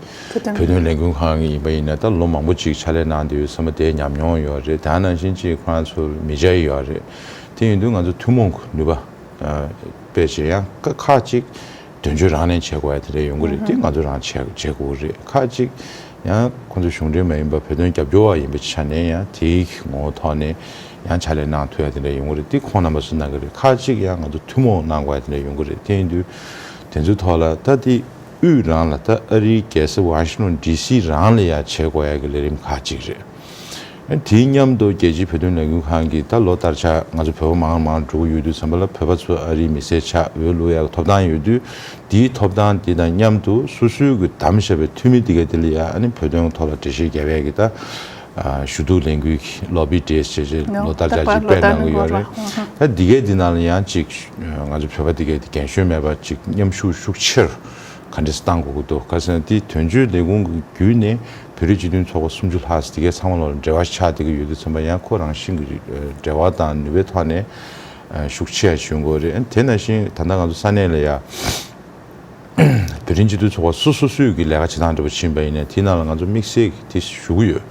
བོད་དོན་ལས་འགུལ་ཁང་གི་ཡིན་པ་ཡིན་ན་ད་ལོ་མང་པོ་ཅིག་ཕྱག་ལས་གནང་འདི་ཡོད་ས་མ་དེ་ཉམས་མྱོང་ཡོད་རེད་དེ་ནང་བཞིན་ཅིག་ཁོ་རང་ཚོ་མི་བྱ་ཡི་ཡོད་རེད་དེ་ཡིན་དུས་ང་ཚོ་ཐུན་མོང་གི་ནུས་པ་སྤེལ་ཆེད་ཡང་ཁ་ཁག་ཅིག་དོན་གཅོད་རང་ནས་བྱེད་དགོས་ཡ་དེ་འདྲ་ཡོང་གི་རེད་དེ་ང་ཚོ་རང་བྱེད་དགོས་ཀྱི་རེད་ཁག་ཅིག་ཡང་ཁོ་ཚོ་གཞུང་འབྲེལ་མ་ཡིན་པ་བོད་དོན་རྒྱབ་སྐྱོར་བ་ཡིན་པའི་ཆ་ནས་ཡང་དེའི་ངོ་བོ་ཐོག་ནས་ཡང་ཕྱག་ལས་གནང་ཐུབ་ཡ་དེ་འདྲ་ཡོང་གི་རེད་དེ་ཁོང་རྣམ་པ་ཚོས་གནང་གི་རེད་ཁག་ཅིག་ཡང་ང་ཚོ་ཐུན་མོང་གནང་དགོས་ཡ་དེ་འདྲ་ཡོང་གི་རེད་དེ་ཡིན་དུས་དེ་ཚོའི་ཐོག་ལ་ད་དེ། དབུས་རང་ལ་ད་ཨ་རིའི་རྒྱལ་ས་ཝང་ཤི་ནོན་ལྡི་སི་རང་ལ་ཡང་བྱེད་དགོས་ཡག་གི་ལས་རིམ་ཁག་གཅིག་རེད། དེའི་མཉམ་དུ་རྒྱལ་སྤྱིའི་བོད་དོན་ལས་འགུལ་ཁང་གིས་ད་ལོ་ལྟར་ཆ་ང་ཚོ་བོད་པ་མང་ན་མང་འགྲོ་གི་ཡོད་དུས་བསམ་པ་ལ་བོད་པ་ཚོ་ཨ་རིའི་མི་སེར་ཆགས་འོས་ལུགས་ཡག་གི་ཐོབ་ཐང་ཡོད་དུས་དེའི་ཐོབ་ཐང་དེ་དང་མཉམ་དུ་སོ་སོའི་གི་དམ་བཞག་པའི་འཐུས་མི་དེ་ག་དེ་ལ་ཡང་ཨ་ནི་བོད་དོན་གི་ཐོག་ལ་འགྲེལ་བཤད་རྒྱབ་ཡག་གི་ད་ཞུ་གཏུག་ལས་འགུལ་གྱི་ལོ་པི་འདྲེས་བྱས་རྗེས་ལོ་ཟླ་བརྒྱ་ཅིག་དཔེར་གནང་གི་ཡོད་རེད། ད་འདི་གའི་འདི་ནང་ལ་ཡང་ཅིག་ང་ཚོ་བོད་པ་འདི་གའི་རྒན་གཞོན་མེད་པ་ཅིག་མཉམ་ཞུགས་ཤུགས་ཆེར་ག་འདྲེས་གཏང་དགོས་ཀྱི་འདུག་ག་ཟེར་ན་འདི་དོན་གཅོད་ལས་ཁུངས་ཀྱི་བརྒྱུད་ནས་བོད་རིགས་སྤྱི་མཐུན་ཚོགས་པ་སུམ་ཅུ་ལྷག་འདི་གའི་ཚང་མ་ལ་འབྲེལ་བ་ཆགས་བསྡད་ཀྱི་ཡོད་དུས་ཚོད་མ་ཡང་ཁོ་རང་བཞིན་གྱི་འབྲེལ་བ་དང་ནུས་པའི་ཐོག་ནས་ཤུགས་ཆེ་ཡང་ཞུ་དགོས་རེད་དེ་ན་བཞིན་ད་ལྟ་ང་ཚོ་ས་གནས་ལ་ཡང། བོད་དྲིན་གཅིག་ཏུ་ཚོགས་པ་སོ་སོ་སུས་ཀྱི་ལས་ཀ་བྱེད་སྟངས་འདྲ་པོ་བྱིན་པ་ཡིན་ནས་དེའི་ནང་ལ་ང་ཚོ་དམིགས་བསལ་གྱི་དེ་ཞུ་གི་ཡོད།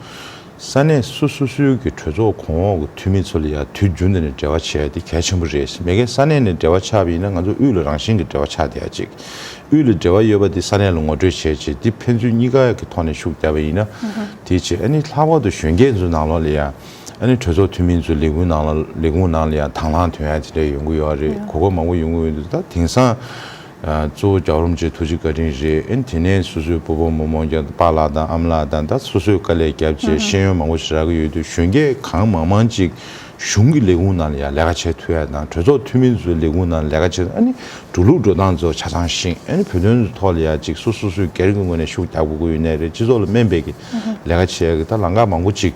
ས་གནས་སོ་སོ་སུའི་གི་གྲོས་ཚོགས་གོང་འོག་གི་འཐུས་མི་ཚོ་ལ་ཡང་དུས་རྒྱུན་དེ་ནས་འབྲེལ་བ་བྱས་དེ་གལ་ཆེན་པོ་རེད་མེད་ཀན་ས་གནས་ནས་འབྲེལ་བ་ཆགས་པ་ཡིན་ན་ང་ཚོ་དབུས་ལ་རང་བཞིན་གྱི་འབྲེལ་བ་ཆགས་བསྡད་ཅིག་དབུས་ལ་འབྲེལ་བ་ཡོད་པ་དེ་ས་གནས་ལ་ངོ་སྤྲོད་བྱས་ཅིག་དེ་ཕན་ཚུན་གཉིས་ཀ་གི་ཐོག་ནས་ཤུགས་རྒྱབ་པ་ཡིན་ན་དེ་བྱས་ཨ་ནི་ལྷག་པར་དུ་གཞོན་སྐྱེས་ཚོའི་ནང་ལོགས་ལ་ཡང། ཨ་ནི་གྲོས་ཚོགས་འཐུས་མིན་ཚོའི་ལས་ཁུངས་ནང་ལ་ལས་ཁུངས་ནང་ལ་ཡང་དང་བླངས་དོན་ཡང་དེ་འདྲ་ཡོང་གི་ཡོད་རེད་གོ་སྐབས་མང་པོ་ཡོང་གི་ཡོད་འདུག་ད་དེང་སང་གཙོ་བོ་རྒྱག་རོམ་བཅས་ཐུགས་རྗེ་བཀའ་དྲིན་རེད་ཨ་ནི་དེ་ནས་སོ་སོའི་བུ་བུ་མོ་མོ་རྒྱ་དཔའ་ལགས་དང་ཨམ་ལགས་དང་ད་སོ་སོའི་དཀའ་ལས་རྒྱབ་བཅས་ཤེས་ཡོན་མང་པོ་ཞིག་རག་གི་ཡོད་འདུག་གཞོན་སྐྱེས་གང་མང་མང་ཅིག་གཞུང་གི་ལས་ཁུངས་ནང་ལ་ཡང་ལས་ཀ་བྱས་ཐུབ་ཡ་དང་གྲོས་ཚོགས་འཐུས་མིན་ཚོའི་ལས་ཁུངས་ནང་ལས་ཀ་བྱས་ཨ་ནི་འགྲོ་ལུགས་འགྲོ་སྟངས་ཚོ་ཆ་ཚང་ཞིང་ཨ་ནི་བོད་དོན་ཐོག་ལ་ཡང་ཅིག་སོ་སོ་སུས་སྒེར་གྱི་ངོས་ནས་ཤུགས་རྒྱག་དགོས་ཀྱི་ཡོད་ནའི་རེད་སྤྱི་ཚོགས་ལ་སྨན་སྦས་ཀྱི་ལས་ཀ་བྱས་ཡ་གི་ད་ལང་ཀ་མང་པོ་ཅིག།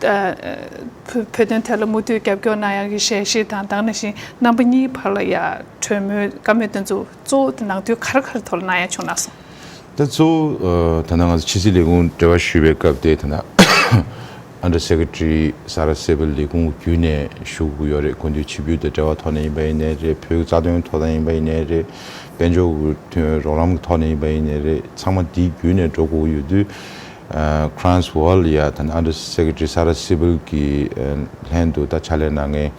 བོད་དོན་ཐད་ལ་མུ་མཐུད་རྒྱབ་སྐྱོར་གནང་ཡག་གི་ཞལ་བཞེས་དང་བདག་ནང་བཞིན་རྣམ་པ་གཉིས་བར་ལ་ཡང་གྲོས་མོལ་བཀའ་མོལ་དོན་ཚོགས་གཙོ་བོ་ནང་དུས་ག་རེ་ག་རེ་ཐོག་ལ་གནང་ཡག་བྱུང་ན་སོང། ད་གཙོ་བོ་ད་ནང་ང་ཚོ་ཕྱི་སྲིད་ལས་ཁུངས་འབྲེལ་བ་ཞུས་པའི་སྐབས་དེ་ད་ནང Under Secretary ས་རཱ་སེ་བྷི་ལས་ཁུངས་བརྒྱུད་ནས་ཞུགས་དགོས་ཡོག་རེད་དགོས་འདོད་ཕྱི་བུའི་དོད་འབྲེལ་བ་ཐོག་ནས་ཡིན་པ་ཡིན་ནའི་རེད་བོད་ཀྱི་རྩ་དོན་ཐོག་ད་ཡིན་པ་ཡིན་ནའི་རེད་དཔལ་འབྱོར་དོན་རོགས་རམ་གྱི་ཐོག་ནས་ཡིན་པ་ཡིན་ནའི་རེད་ཚང་མ་དེའི་བརྒྱུད་ནས་འགྲོ་དགོས་ཀྱི་ཡོད་དུས Kranz Wall ཡ་ད Under Secretary Sarah Siebel གྱི་ལྷན་དུ་ད་ཕྱག་ལས་གནང་མཁན་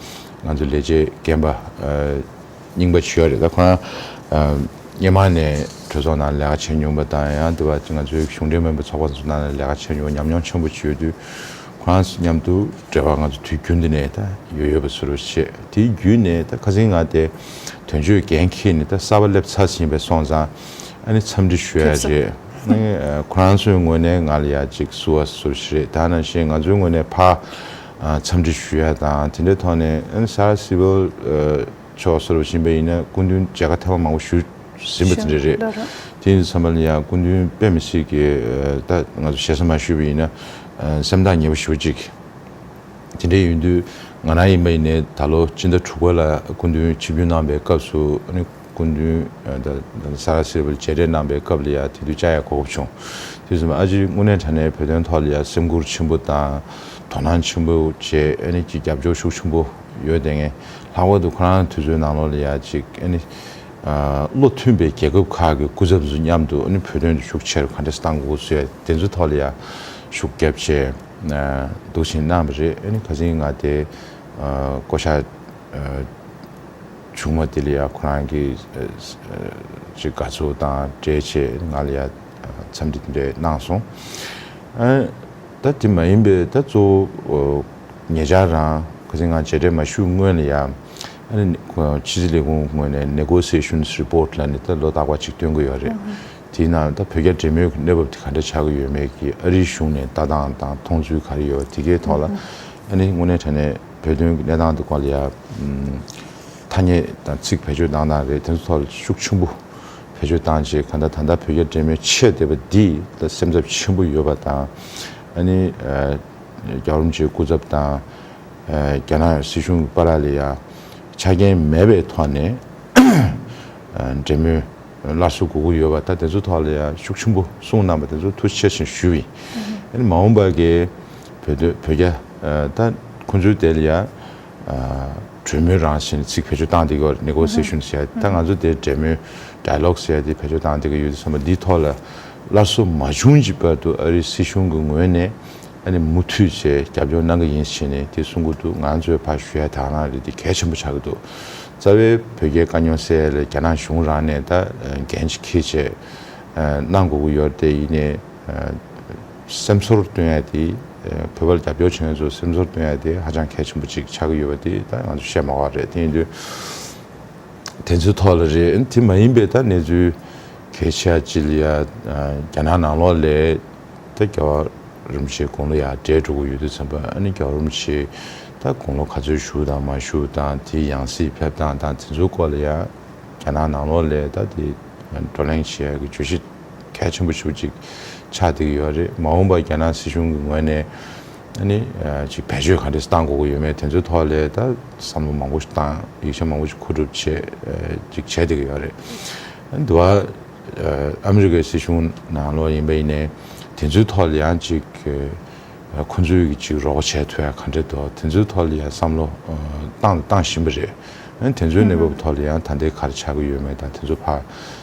ང་ཚོའི་ལས་བྱེད་རྒན་པ་རྙིང་པ་བྱུས་བ་རེད་ད་ཁོང་རང་སྙེ་མང་ནས་གྲོས་ཚོགས་ནང་ལས་ཀ་བྱས་མྱོང་པ་དང་ཡང་དེ་བ་ང་ཚོའི་གཞུང་འབྲེལ་མོན་པ་ཚོགས་པ་ཚོ་ནང་ལ་ལས་ཀ་བྱས་མྱོང་བ་ཉམས་མྱོང་ཆེན་པོ་བྱུས་ཡོད་དུས་ཁོང་རང་མཉམ་དུ་འབྲེལ་བ་ང་ཚོ་དུས་རྒྱུན་དུ་ནས་ད་ཡོད་ཡོད་པ་ཚོ་རུ་བྱས་དེའི་བརྒྱུད་ནས་ད་ཁ་ཟིང་ང་དེ་དོན་གཅོད་འགན་འཁྱེར་ནས་ད་གསར་བ་སླེབས་ཚར་ཟིན་པས་སོང་ཙང། ཨ་ནི་འཚམས་འདྲི་ཞུ་ཡ་རེད། ཁོ་རང་ཚོའི་ངོས་ནས་ང་ལ་ཡ་གཅིག་བསུ་བ་ཟུར་བཞི་རེད་ད་ནང་བཞིན་ང་ཚོའི་ངོས་ནས་ཕ་འཚམས་འདྲི་ཞུ་ཡ་དང་དེ་འདྲའི་ཐོག་ནས་ཨ་ནི་སཱ་ར་སི་བོལ་ཕྱོགས་སུ་རུ་བཞིན་པ་ཡིན་ན་སྐུ་མདུན་མཇལ་ཁ་ཐེངས་མང་པོ་ཞུ་ཟིན་པ་དེ་འདྲ་རེད། དེ་ཡིན་ཚང་མ་ལ་ཡང་སྐུ་མདུན་དཔེ་མི་སྲིད་ཀི་ད་ང་ཚོ་ཞེ་ས་མ་ཞུས་པ་ཡིན་ན་སེམས་ཐག་ཉེ་པོ་ཞུ་གཅིག་དེ་འདྲའི་ཡོད་དུས་ང་རང་ཡིན་པ་ཡིན་ནས་ད་ལོ་སྤྱི་ཟླ་དྲུག་པ་ལ་སྐུ་མདུན་ཆིབས་བསྒྱུར་གནང་པའི་སྐབས་སུ་ཨ་ནི། སྐུ་མདུན་ས་ག་སེར་པོ་མཇལ་འཕྲད་གནང་པའི་སྐབས་ལ་ཡང་དེ་དུས་བཅའ་ཡག་གོ་བབ་བྱུང། དུས་གསུམ་ཨ་ཅེ་དངོས་གནས་དྲ་གནས་བོད་དོན་ཐོག་ལ་ཡང་སེམས་ཁུར་ཆེན་པོ་དང། དོ་སྣང་ཆེན་པོ་བྱས་ཨེ་ནི་ཅིག་རྒྱབ་སྐྱོར་ཤུགས་ཆེན་པོ་ཡོད་དེ་ངས་ལྷག་པར་དུ་ཁོ་རང་དུས་ཚོད་ནང་ལོགས་ལ་ཡང་ཅིག་ཨེ་ནི། བློ་མཐུན་པའི་རྒྱལ་ཁབ་ཁག་གི་སྐུ་ཚབ་ཚོ་མཉམ་དུ་ཨེ་ནི་བོད་དོན་དུ་ཤུགས་ཆེར་ཁ་འདྲེས་གཏང་དགོས་ཟེར་དེ་ཚོའི་ཐོག་ལ་ཡང་ཤུགས་རྒྱབ་ཆེ་འདུག་བཞིན་གནང་བ་རེད་ཨེ་ནི་ག་ཟིན་ང་དེ་བསྐོ་བཞག་ཆུང་མ་དེ་ལ་ཡང་ཁོ་རང་གི་ཅི་དགའ་ཚོར་དང་བྲལ་ཆེད་ང་ལ་ཡང་འཚམས་འདྲི་དེ་འདྲས་གནང་སོང། ད་དེ་མ་ཡིན་པའི་ད་གཙོ་བོ་ངེད་ཅག་རང་ག་ཚེ་ང་བྱས་འབྲས་མ་ཞུས་སྔོན་ལ་ཡང་ཕྱི་སྲིད་ལས་ཁུངས་ངོས་ནས Negotiations Report ལ་ནི་ད་ལོ་ལྟག་པ་གཅིག་སྟོན་གི་ཡོད་རེད། དེའི་ནང་ད་བོད་རྒྱ་འབྲེལ་མོལ་གྱི་གནས་བབ་དེ་ག་འདྲ་ཆགས་ཀྱི་ཡོད་མེད་ཀྱི་ཨ་རིའི་གཞུང་ནས་ལྟ་སྟངས་དང་མཐོང་ཚུལ་ག་རེ་ཡོད་རེད་དེ་གའི་ཐོག་ལ་ནི་དངོས་གནས་དྲན་ནས་བོད་དོན་གྱི་གནས་སྟངས་འདི་སྐོར་ལ་ཡང་ཐ་སྙད་དང་ཚིག་བེད་སྤྱོད་བཏང་སྟངས་རེད་དེ་ཚོ་ཐོག་ལ་ཤུགས་ཆེན་པོ་བེད་སྤྱོད་བཏང་རྗེས་གང་ལྟར་ད་ལྟ་བོད་རྒྱ་འབྲེལ་མོལ་བྱས་བསྡད་པ་འདི་ལ་སེམས་འཚབ་ཆེན་པོ་ཡོད་པ་དང། ཨ་ནི་རྒྱ་རོམ་ཅེའི་སྐུ་ཚབ་དང་རྒྱ་ནག་སྲིད་གཞུང་གི་པ་ར་ལས་ཡང་ཆ་རྐྱེན་མེད་པའི་ཐོག་ནས་འབྲེལ་མོལ་སླར་གསོ་དགོས་ཀྱི་ཡོད་པ་ད་དེ་ཚོ་ཐོག་ལ་ཡང་ཤུགས་ཆེན་པོ་གསུངས་གནང་པ་དེ་ཚོ་ཐུགས་ཆེ་ཞེན་ཞུ། ཨ་ནི་མ་འོངས་པར་གྱི་བོད་སྡོད་བོད་རྒྱ། ད་ཁོང་ཚོའི་དེ་ལ་ཡང། གྲོས་མོལ་རང་བཞིན་ཚིག་བེད་སྤྱོད་བཏང་དེ་གོ Negotiation བྱས་ད་ང་ཚོ་དེ་འབྲེལ་མོལ Dialogue བྱས་དེ་བེད་སྤྱོད་བཏང་དེ་གོ་ཡོད་དུ་སོང་བ་འདིའི་ཐོག་ལ་སླར་གསོ་མ་བྱུང་གྱི་བར་དུ་ཨ་རིའི་སྲིད་གཞུང་གི་ངོས་ནས་ཨ་ནི་མུ་མཐུད་ཆེད་རྒྱབ་སྐྱོར་གནང་གི་ཡིན་ཞེས་ནས་དེ་གསུང་གི་འདུག་ང་ཚོས་ཕ་ཞུ་ཡ་དྭགས་ནང་རེད་དེ་གལ་ཆེན་པོ་ཆགས་ཀྱི་འདུག་རྩ་བའི་བོད་རྒྱའི་དཀའ་རྙོག་སེལ་ཡ་ལ་རྒྱ་ནག་གཞུང་རང་ནས་ད་འགན་གྱི་ཁེ་བྱས་གནང་དགོས་ཀྱི་ཡོད་དེ་ཡིན་ནས། སེམས་ཚོར་སྟོན་ཡ་དེ། བོད་པ་ལ་རྒྱབ་སྐྱོར་བྱེད་མཁན་ཚོ་སེམས་ཚོར་སྟོན་ཡ་དེ་ཧ་ཅང་གལ་ཆེན་པོ་ཅིག་ཆགས་ཀྱི་ཡོད་པ་དེ་ད་ང་ཚོས་བཤད་མ་བ་རེད་དེ་ཡིན་དུས། དེ་ཚོའི་ཐོག་ལ་རེད་ཨེ་དེ་མ་ཡིན་པའི་ད་གནས་ཚུལ་གལ་ཆེ་ཡ་ཅི་ལ་ཡ། རྒྱ་ནག་ནང་ལོགས་ལས་ད་རྒྱ་བ་རིམ་བྱེད་དགུང་ལོ་ཡ་བགྲེས་འགྲོ་གི་ཡོད་དུས་ཚན་པ་ཨ་ནི་རྒྱ་བ་རིམ་བྱེད་ད་དགུང་ལོ་ག་ཚོད་བཞུགས་དང་མ་བཞུགས་དང་དེའི་ཡང་སྲིད་ཕེབས་སྟངས་དང་དེ་ཚོའི་སྐོར་ལ་ཡ། རྒྱ་ནག་ནང་ལོགས་ལས་ད་དེ་བགྲོ་གླེང་བྱེད་ཡ་གི་བརྗོད་གཞི། གལ་ཆེན་པོ་ཞིག་ཅིག་ཆགས་བསྡད་ཀྱི་ཡོད་རེད། མ་འོངས་པར་རྒྱ་ནག་སྲིད་གཞུང་གི་ངོས་ནས། ནི། ཅིག་བེད་སྤྱོད་ག་རེ་བཏང་དགོས་ཀྱི་ཡོད་མེད་དེ་ཚོའི་ཐོག་ལས་ད་བསམ་བློ་མང་པོ་ཞིག་བཏང། ཡིག་ཆ་མང་པོ་ཞིག་མཁོ་སྒྲུབ་བྱེད། ཅིག་བྱས་བསྡད་ཀྱི་ཡོད་རེད། འདི་བ། ཨ་མི་རི་ཀའི་སྲིད་གཞུང་ནང་ལོགས་ཡིན་པ་ཡིན་ནའི། དེ་ཚོའི་ཐོག་ལ་ཡང་ཅིག། ཁོ་ཚོའི་གི་ཅིག་རོགས་པ་བྱས་ཐུབ་ཡ་ག་འདྲེ་དོ་དེ་ཚོའི་ཐོག་ལ་ཡང་བསམ་བློ། བཏང་དང་བཏང་བཞིན་པ་རེད། དེ་ཚོའི་གནས་བབ་ཐོག་ལ་ཡང་ད་ལྟའི་ག་རེ་ཆགས་ཀྱི་ཡོད་མེད་དང་དེ་ཚོ་བར།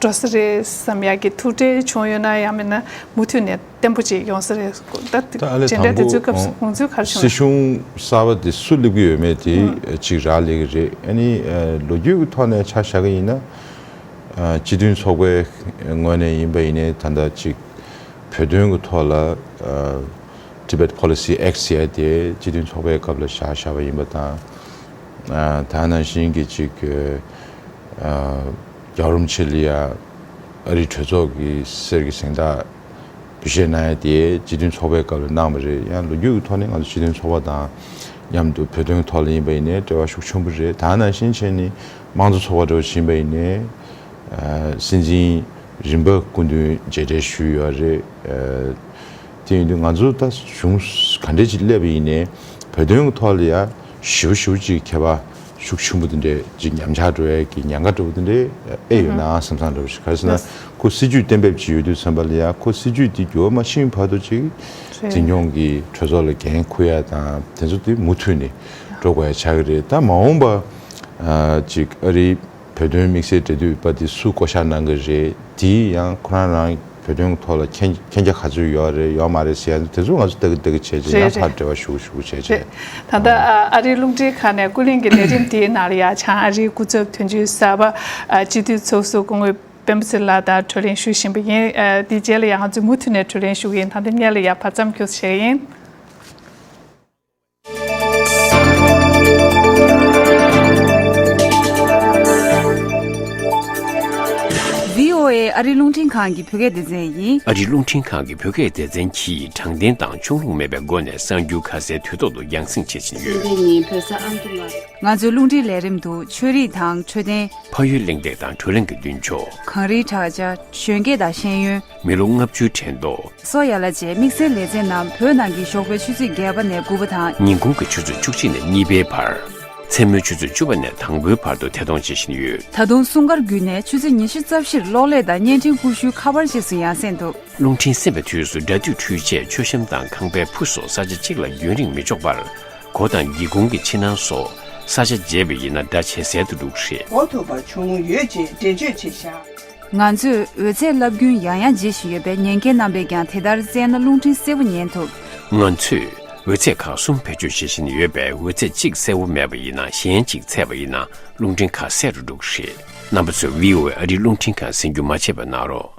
འགྲོ་ས་རེད་བསམ་ཡག་གི་ཐུགས་ཁྲལ་བྱུང་ཡོད་ན་ཡང་མེད་ན་མུ་མཐུད་ནས་བརྟན་པོ་ཅིག་ཡོང་ས་རེད་ད་ལེ་དང་པོ་སྲིད་གཞུང་གསར་པ་དེ་སུ་སླེབས་ཀྱི་ཡོད་མེད་དེ་གཅིག་རག་ལས་ཀྱི་རེད་ཨ་ནི་ལོ་རྒྱུས་ཀྱི་ཐོག་ནས་ཆ་བཞག་གི་ཡིན་ན་སྤྱི་མཐུན་ཚོགས་པའི་ངོས་ནས་ཡིན་པ་ཡིན་ནའི་ད་ལྟ་གཅིག་བོད་དོན་གྱི་ཐོག་ལ Tibet Policy Act ཟེར་ཡ་དེ་སྤྱི་མཐུན་ཚོགས་པའི་སྐབས་ལ་བཞག་བཞག་པ་ཡིན་པ་དང་ད་ནང་བཞིན་གྱི་གཅིག་རྒྱ་རོམ་ཆི་ལི་ཡ་ཨ་རིའི་གྲོས་ཚོགས་ཀྱི་གསེར་གྱི་གཟེངས་རྟགས་འབུལ་བཞེས་གནང་ཡ་དེ་སྤྱི་མཐུན་ཚོགས་པའི་སྐབས་ལ་གནང་བ་རེད་ཡང་ལོ་རྒྱུས་ཀྱི་ཐོག་ནས་ང་ཚོ་སྤྱི་མཐུན་ཚོགས་པ་དང་མཉམ་དུ་བོད་དོན་གྱི་ཐོག་ལ་ཡིན་པ་ཡིན་ནའི་འབྲེལ་བ་ཤུགས་ཆེན་པོ་རེད་ད་ནང་བཞིན་ཆེ་ནས་དམངས་གཙོ་ཚོགས་པ་འགྲོ་བཞིན་པ་ཡིན་ནའི་སྲིད་འཛིན་རིམ་པ་སྐུ་མདུན་མཇལ་འཕྲད་ཞུས་ཡོད་རེད་དེ་ཡིན་དུས་ང་ཚོ་ད་གཞུང་ག་འདྲས་ཅིག་སླེབས་པ་ཡིན་ནའི་བོད་དོན་གྱི་ཐོག་ལ་ཡ་ཞི་བོ་ཞི་བོ་ཅིག་མཁས་པ་ཤུགས་ཆེན་པོ་དེ་འདྲའི་འཇིགས་ཉམས་ཆགས་འགྲོ་ཡས་ཀྱི་ཉེན་ཁ་འགྲོ་བ་དེ་འདྲའི་ཨེ་ཡོད་ནའང་བསམ་བསམ་འགྲོ་བ་ཞིག་ག་རེ་ཟེར་ན་ཁོ་སྲིད་ཇུས་གཏན་འབེབས་ཀྱི་ཡོད་དུས་ཚན་པ་ལ་ཡང་ཁོ་སྲིད་ཇུས་དེ་འགྱུར་བ་མ་ཕྱིན་བར་དུ་ཅིག་འཛིན་སྐྱོང་གི་གྲོས་ཚོགས་ལ་འགན་འཁུར་ཡ་དང་དེ་ཚོ་དེ་མུ་མཐུད་ནས་འགྲོ་དགོས་ཡ་ཆགས་ཀྱི་རེད་ད་མ་འོངས་པ་ཅིག་ཨ་རིའི། བོད་དོན་དམིགས་བསལ་འབྲེལ་མཐུད་པ་དེ་སུས་བསྐོ་གཞག་གནང་གི་རེད་དེ་ཡང་ཁོ་རང་རང་བོད་དོན་ཐོག་ལ་མཁྱེན་རྒྱ་ག་ཚོད་ཡོད་རེད་ཡོད་མ་རེད་ཟེར་ཡ་འདུག་དེ་ཚོ་ང་ཚོ་ལྟ་གི་ལྟ་གི་བྱས་བྱས་ཡང་ཕར་འབྲེལ་བ་ཞུ་གི་ཞུ་གི་བྱས་བྱས། ད་ལྟ་ཨ་རིའི་རླུང་འཕྲིན་ཁང་ནས་ཀུན་གླེང་གི་ལས་རིམ་དེའི་ནང་ལ་ཡ་ཆང་ཨ་རིའི་སྐུ་ཚབ་དོན་གཅོད་གསར་པ་སྤྱི་འཐུས་ཚོགས་གཙོ་སྐུ་ངོ་སྤེན་པ་ཚེ་ལགས་དང་གྲོས་གླེང་ཞུ་བཞིན་པ་ཡིན། དེའི་རྗེས་ལ་ཡང་ང་ཚོས་མུ་མཐུད་ནས་གྲོས་གླེང་ཞུ་གི་ཡིན་ད་ལྟ་བསྙད་ལ་ཡ་བར་མཚམས་འཁྱོལ་བྱེད་ཀྱི་ཡིན། ཨ་རི་རླུང་འཕྲིན་ཁང་གི་བོད་སྐད་སྡེ་ཚན་ཡིན། ཨ་རི་རླུང་འཕྲིན་ཁང་གི་བོད་སྐད་སྡེ་ཚན་གྱིས་དྲང་བདེན་དང་ཕྱོགས་ལྷུང་མེད་པའི་སྒོ་ནས་གསར་འགྱུར་ཁ་གསལ་དུས་ཐོག་ཏུ་རྒྱང་བསྲིངས་བྱེད་བཞིན་ཡོད། ཚེས་བརྒྱད་ཉིན་བོད་ས་ཨང་དུ་མ། ང་ཚོའི་རླུང་འཕྲིན་ལས་རིམ་དུ་ཆོས་རིག་དང་འཕྲོད་བསྟེན། ཕ་ཡུལ་གླེང་སྟེགས་དང་བགྲོ་གླེང་གི་མདུན་ཕྱོགས། གངས་རིའི་བྲག་ཆ། གཞོན་སྐྱེས་དང་ཤེས་ཡོན། མི་ལོ་ལྔ་བཅུའི་དྲན་རྟོགས། སོ་ཡ་ལ་བཅས་དམིགས་བསལ་ལེ་ཚན་རྣམས་བོད་ནང་གི་ཞོགས་པའི་ཆུ་ཚོད་བརྒྱད་པ་ནས་དགུ་བ་དང། ཉིན་གུང་གི་ཆུ་ཚོད་བཅུ་གཅིག་ནས་གཉིས་པའི་བར། མཚན་མོའི་ཆུ་ཚོད་བཅུ་བ་ནས་དང་པོའི་བར་དུ་ཐད་གཏོང་བྱེད་བཞིན་ཡོད། ད་དུང་སྲུང་སྐར་བརྒྱུད་ནས་ཆུ་ཚོད་ཉི་ཤུ་རྩ་བཞིར་གློག་ཀླད་དང་བརྙན་འཕྲིན་ཀུ་ཤུའི་ཁ་པར་བཅས་སུ་ཡང་གསན་འདུག། རླུང་འཕྲིན་གསན་པའི་དུས་སུ་སྒྲ་སྡུད་འཕྲུལ་ཆས་མཆོད་ཤམ་དང་ཁང་པའི་ཕུ་སོགས་ས་ཆ་གཅིག་ལ་རྒྱུན་རིང་མི་འཇོག་པར། སྒོ་དང་སྒེའུ་ཁུང་གི་ཕྱི་ནང་སོགས་ས་ཆ་བརྗེ་བས་ཡིན་ན་སྒྲ་ཇེ་གསལ་དུ་འདུག་རེད། འགོག་ཐུབ་པ་བྱུང་ཡོད་ཅེས་འགྲེལ་བརྗོད་བྱས་བཞག། ང་ཚོས་འོད་ཟེར་རླབས་རྒྱུན་ཡང་ཡང་འབྱེད་བཞིན་ཡོད་པས་ཉན་མཁན་རྣམ་པས་ཀྱང་དེ་ལྟར་བཙལ་ན་རླུང་འཕྲིན་གསལ་བོ་ཉན་ཐུབ། ང་ཚོས་འོད་ཚད་ཁག་གསུམ་བེད་སྤྱོད་བྱེད་བཞིན་ཡོད་པས་འོད་ཚད་གཅིག་གསལ་བོ་མེད་པ་ཡིན་ན་གཞན་གཅིག་ཚད་པ་ཡིན་ན་རླུང་འཕྲིན་ཁ་གསལ་རུ་འགྲོ་གི་རེད། རྣམ་པ་ཚོས VOA ཨ་རིའི་རླུང་འཕྲིན་ཁང་ཟིན་རྒྱུ་མ་བྱས་པ་གནང་རོགས།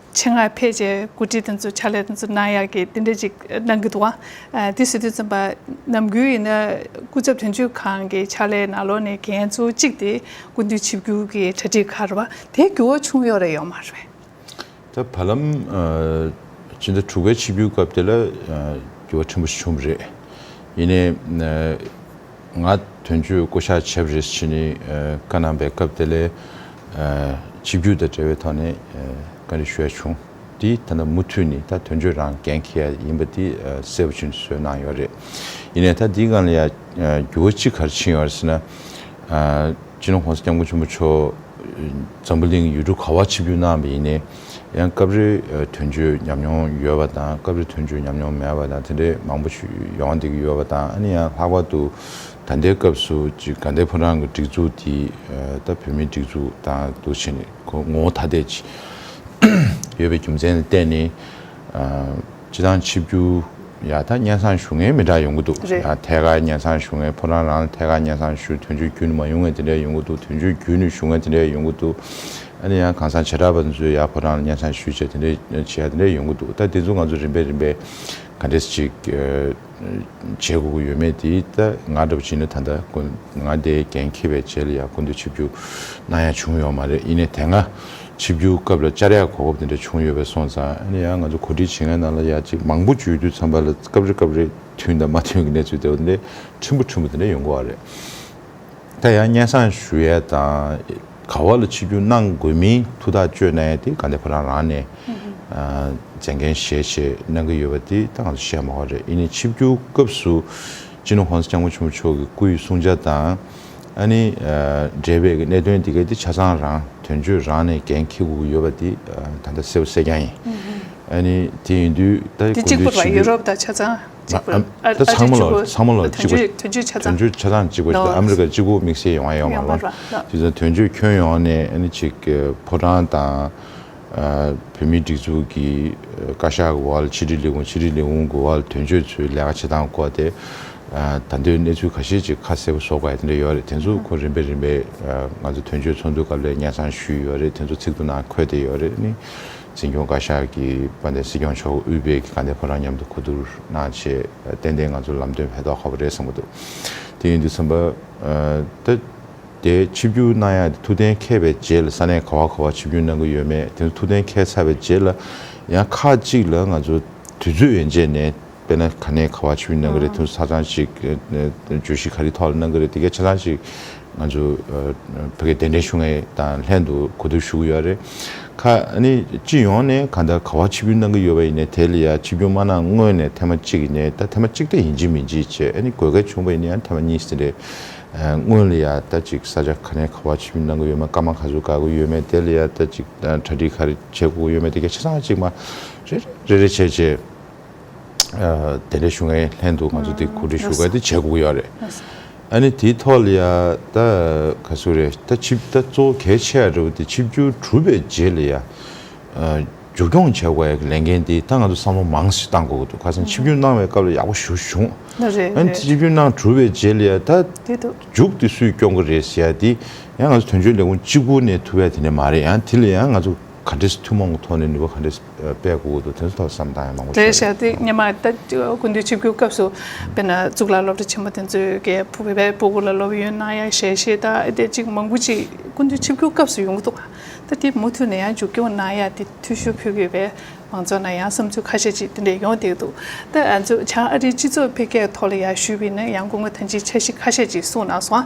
ཆེད་མངགས་ཕལ་ཆེར་གོ་སྒྲིག་དེ་ཚོ་ཕྱག་ལས་དེ་ཚོ་གནང་ཡག་གི་དེ་འདྲ་ཅིག་གནང་གི་འདུག་བ། དེ་ཟེར་དུས་ཚོན་པ་ནམ་གུའི་ཡིན་ན་སྐུ་ཚབ་དོན་གཅོད་ཁང་གི་ཕྱག་ལས་ནང་ལོག་ནས་གན་གཙོ་གཅིག་དེ་སྐུ་མདུན་ཆིབས་བསྒྱུར་གི་གྲ་སྒྲིག་ཁག་རེད་བ། དེ་འགྱུར་བ་ཆུང་ཡོག་རེ་ཡོག་མ་རེད་བས། ད་བར་ལམ་སྤྱི་ཟླ་དྲུག་པའི་ཆིབས་བསྒྱུར་སྐབས་དེ་ལ་འགྱུར་བ་ཕྲན་བུ་ཞིག་བྱུང་བ་རེད། ཡིན་ནའི། ང་དོན་གཅོད་བསྐོ་གཞག་བྱས་པ་རེད་ཅེས་བཀའ་གནང་པའི་སྐབས་དེ་ལས་ཆིབས་བསྒྱུར་དང་འབྲེལ་བའི་ཐོག་ནས་བཀའ་འདྲི་ཞུ་ཡ་བྱུང་དེ་ད་ལྟ་མུ་མཐུད་ནས་ད་དོན་གཅོད་རང་འགན་འཁྱེར་ཡ་ཡིན་པ་དེ་གསལ་པོ་ཕྱིན་སོས་གནང་ཡོད་རེད། ཡིན་ནས་ད་འདི་སྒང་ལ་ཡང་འགྱུར་བ་ཅི་གར་ཕྱིན་ཡོད་རེད་ཟེར་ན། སྤྱི་ནོར ྋགོང་ས ྋསྐྱབས་མགོན་ཆེན་པོ་མཆོག་འཛམ་བུ་གླིང་ཡུལ་གྲུ་ག་བར་ཆིབས་བསྒྱུར་གནང་བ་ཡིན་ནས། ཡང་སྐབས་རེ་དོན་གཅོད་ཉམས་མྱོང་ཡོད་པ་དང་སྐབས་རེ་དོན་གཅོད་ཉམས་མྱོང་མེད་པ་དང་དེ་འདྲའི་མང་པོ་ཡོང་བསྡད་ཀྱི་ཡོད་པ་དང་ཨ་ནི་ཡང་ལྷག་པར་དུ་ད་ལྟའི་སྐབས་སུ་གཅིག་དགའ་ལྡན་ཕོ་བྲང་གི་སྒྲིག་འཛུགས་དེ་ད་བོད་མིའི་སྒྲིག་འཛུགས་དང་དུ་ཕྱིན་ནས་ངོ་བོ་ཐ་དད་ཅིག་ཡོད་པའི་རྒྱུ་མཚན་ལ་བརྟེན་ནས། སྤྱི་བཏང་ཆིབས་བསྒྱུར་ཡག་ད་སྙན་སང་ཞུ་མཁན་མི་འདྲ་ཡོང་གི་འདུག་རེད་ཡང་ཐད་ཀར་སྙན་སང་ཞུ་མཁན་ཕོ་བྲང་རང་ལ་ཐད་ཀར་སྙན་སང་ཞུ་དོན་གཅོད་བརྒྱུད་ནས་མ་ཡོང་མཁན་དེ་འདྲ་ཡོང་གི་འདུག་དོན་གཅོད་བརྒྱུད་ནས་ཞུ་མཁན་དེ་འདྲ་ཡོང་གི་འདུག་ཨ་ནི་ཡང་གང་ཟང་བྱེ་བྲག་པ་ཚོས་ཡང་ཕོ་བྲང་ལ་སྙན་སང་ཞུ་བྱས་དེ་འདྲ་བྱས་ཡ་དེ་འདྲ་ཡོང་གི་འདུག་ད་དེ་ཚོ་ང་ཚོ་རིམ་པས་རིམ་པས་ག་འདྲེས་ཅིག་བྱེད་དགོས་ཀྱི་ཡོད་མེད་དེ་ད་ང་འདྲ་བོ་བྱིས་ནས་ད་ལྟ་ང་དེ་འགན་འཁྱེར་བའི་རྗེས་ལ་ཡང་སྐུ་མདུན་ཆིབས་རྒྱུག་གནང་ཡ་བྱུང་ཡོད་མ་རེད་ཡིན་ནས་དེ་སྔ་ཆིབས་རྒྱུག་སྐབས་ལ་བཅར་ཡ་གོ་སྐབས་དེ་འདྲ་བྱུང་ཡོད་པས་སོང་ཙང་ཡིན་ནའང་ང་ཚོ་གོ་སྒྲིག་བྱེད་མཁན་རྣམས་ལ་ཡ་གཅིག་མང་པོ་བརྗོད་དུས་ཚང་པ་ལ་སྐབས་རེ་སྐབས་རེ་མཐུན་དང་མ་མཐུན་གྱི་གནས་ཚུལ་དེ་འདྲ་འོ་དེ་འདྲ་ཕྲན་བུ་ཕྲན་བུ་དེ་འདྲ་ཡོང་གི་བ་རེད། ད་ཡང་སྙན་སང་ཞུ་ཡས་དང་ག་བ་ལ་ཆི་རྒྱུ་གནང་དགོས་མིན་ཐུགས་ཐག་གཅོད་ནས་དེ་ག་འདི་ཁོ་རང་རང་ནས་མཛད་འགན་བཞེས་ཆེད་གནང་གི་ཡོད་པ་དེ་ད་ང་ཚོ་བཤད་མ་བ་རེད་ཨི་ནི་ཆི་རྒྱུ་སྐབས་སུ་ཅི་ནུ་ཧོན་སི་སྐྱག་མོ་ཆུང་མོ་མཆོག་གི་སྐུ་ཡི་བསྲུང་བྱ་དང་ཨ་ནི་འབྲེལ་བའི་གི་གནད་དོན་དེ་ག་དེ་ཆ་ཚང་རང་དོན་གཅོད་རང་ནས་འགན་འཁྱེར་དགོས་གི་ཡོད་པ་དེ་ད་ད་གསལ་བོ་གསལ་རྐྱང་ཡིན་ཨ་ནི་དེ་ཡིན་དུས་ད་དེ་གུས་གཅིག་པུ་འདུད་ལ་ཆི་ཡུ་རྒྱུ་རོབ་དང་ཆ་ཚང། ཚང་མ་ལ་ཚང་མ་ལ་གཅིག་པ་དོན་གཅོད་ཆ་ཚང་གཅིག་པ་ཨ་མི་རི་ཀ་གཅིག་པུ་དམིགས་བསལ་ཡོང་བ་ཡོང་བ་རེད་དོན་གཅོད་ཁྱོན་ཡོངས་ནས་ཨ་ནི་ཅིག་ཕོ་བྲང་དང། བོད་མིའི་སྒྲིག་འཛུགས་ཀྱི་བཀའ་ཤག་གི་འོག་ལ་ཕྱི་དྲིལ་ལས་ཁུངས་ཕྱི་དྲིལ་ལས་ཁུངས་ཀྱི་འོག་ལ་དོན་གཅོད་ཚོའི་ལས་ཀ་བྱེད་སྟངས་སྐོར་དེ་ད་འདོད་གནས་ཚུལ་ག་ཤེད་ཅིག་ཁ་གསལ་པོ་བཟོ་དགོས་དེ་འདྲ་ཡོད་རེད་དེ་ཚོ་ཁོ་རིམ་པས་རིམ་པས་ང་ཚོ་དོན་གཅོད་ཚོགས་འདུ་སྐབས་ལས་གཉེར་ཚང་ཞུས་ཡོད་རེད་དེ་ཚོ་ཚིག་ཏུ་ནང་འཁོད་བསྡད་ཡོད་རེད། འཛིན་སྐྱོང་བཀའ་ཤག་གིས་པ་ནས་སྲིད་སྐྱོང་མཆོག་དབུས་པའི་གི་ག་ནད་ཕོ་རང་མཉམ་དུ་གོ་བསྡུར་གནང་ཆེད་གཏན་གཏན་ང་ཚོ་ལམ་སྟོན་བས་ཐོག་ཁ་བོ་རེད་གསུངས་པ་འདུག་དེ་ཡིན་དུས་ཚོན་པ། ད་དེ་ཆིབས་བསྒྱུར་གནང་ཡག་དེ་ཐུགས་གཏན་མཁས་པའི་རྗེས་ལ་ས་གནས་ག་བ་ག་བ་ཆིབས་བསྒྱུར་གནང་གི་ཡོད་མེད་དེ་ཚོ་ཐུགས་གཏན་མཁས་ཚར་བའི་རྗེས་ལ་ཡང་ཁག་གཅིག་ལ་ང་ཚོ་དུས་ཚོད་ཡན་ཆད་ནས་དཔེར་ན་ག་ནས་ག་བ་ཆུ་མིག་གནང་གི་རེད་དུས་ཚགས་ཆང་ཞིག་གྱོད་གཞི་ག་རེའི་ཐོག་ལ་གནང་གི་རེད་དེ་གའི་ཆ་ཚང་ཞིག་ང་ཚོ་བོད་སྐད་གདན་འདྲེན་ཞུ་ངེས་དང་ལྷན་དུ་གོ་ཐུབ་ཞུ་གི་ཡོད་རེད། ཁ་ནི་སྤྱི་ཡོངས་ནས་ག་ད་ག་བ་ཆིབས་བསྒྱུར་གནང་གི་ཡོད་པ་ཡིན་ནའི་དེ་ལ་ཡང་ཆིབས་བསྒྱུར་མ་གནང་སྔོན་ནས་ཐེངས་མ་གཅིག་ཡིན་ནའི་ད་ཐེངས་མ་གཅིག་ལྟ་ཡིན་གྱི་མིན་གྱི་བྱས་ནི་དགོས་གལ་བྱུང་བ་ཡིན་ནའི་ཡང་ཐེངས་མ་གཉིས་ཟིན་རེད། སྔོན་ལ་ཡང་ད་ཅིག་ས་ཆ་ག་ནས་ག་བ་ཆིབས་བསྒྱུར་གནང་གི་ཡོད་མེད་སྐར་མ་ག་ཚོད་བགར་གི་ཡོད་མེད་དེ་ལ་ཡང་ད་ཅིག་གྲ་སྒྲིག་ག་རེ་བྱེད་དགོས་གི་ཡོད་མེད་དེ་གའི་ཆ་ཚང་ཞིག་མ་རེ་རེ་རེ་རེ་བྱས་རྗེས། དེ་འདྲའི་ཞུ་མཁན་ལྷན་དུ་ང་ཚོ་དེ་གོ་སྒྲིག་ཞུ་སྐབས་དེ་བྱས་དགོས་ཀྱི་ཡོད་རེད། ཨ་ནི་དེའི་ཐོག་ལ་ཡ་ད་ག་ཚོད་རེད་ད་ཆིབས་ད་གཙོ་བོ་གལ་ཆེ་ཡ་རེད་བ་དེ་ཆིབས་བསྒྱུར་གྲུབ་པའི་རྗེས་ལ་ཡ་བསྒྱུར་སྐྱོང་བྱས་དགོས་ཡ་གི་ལས་འགན་དེ་ད་ང་ཚོ་བསམ་བློ་མང་ཞིག་བཏང་དགོས་ཀྱི་འདུག་ཁ་སང་ཆིབས་བསྒྱུར་གནང་བའི་སྐབས་ལ་ཡག་པོ་ཞུ་བྱུང། ཨ་ནི་ཆིབས་བསྒྱུར་གནང་གྲུབ་པའི་རྗེས་ལ་ཡ་ད་མཇུག་དེ་སུས་སྐྱོང་གི་རེད་ཟེར་ཡ་དེ་ཡ་ང་ཚོ་དོན་གཅོད་ལས་ཁུངས་གཅིག་པུ་ནས་ཐུབ་ཡ་དེ་འདྲ་མ་རེད་ཡ་དེ་ལ་ཡ་ང་ཚོ། ག་འདྲས་ཐུན་མོང་གི་ཐོག་ནས་ནུས་པ་ག་འདྲས་སྤེལ་དགོས་ཀྱི་འདུག་དེ་ཚོ་ཐོག་བསམ་གཏང་ཡང་མང་པོ་བྱས་འདུག་ཨང། ཉི་མ་ལྟ་དགུན་དུས་ཆིབས་སྒྱུར་སྐབས་སུ་དཔེར་ན་གཙུག་ལག་སློབ་གྲྭ་ཆེན་མོ་དེ་ཚོའི་རྒད་པོ་བོད་པའི་པོ་གུ་ལ་སློབ་ཡོན་གནང་ཡ་ཞེ་ཞེས་ད་ལྟའི་ཅིག་མང་པོ་ཅིག་དགུན་དུས་ཆིབས་སྒྱུར་སྐབས་སུ་ཡོང་གི་འདུག་ད་དེ་མུ་མཐུད་ནས་ཡང་མཇུག་སྐྱོང་གནང་ཡ་དེ་ཐུགས་ཞུ་ཕུལ་གྱི་རེད་མང་ཚོགས་ནང་ཡང་བསམ་ཚུལ་ཁ་ཤས་ཅིག་དེ་འདྲས་ཡོང་བསྡད་འདུག་ད་ང་ཚོ་བྱང་ཨ་རིའི་སྤྱི་ཚོགས་འཕེལ་རྒྱས་ཐོག་ལ་ཡར་ཞུས་པའི་ནང་ཡང་སྐུ་ངོ་ཐང་ཅིའི་འཆར་གཞི་ཁ་ཤས་ཅིག་གསུངས་གནང་སོང་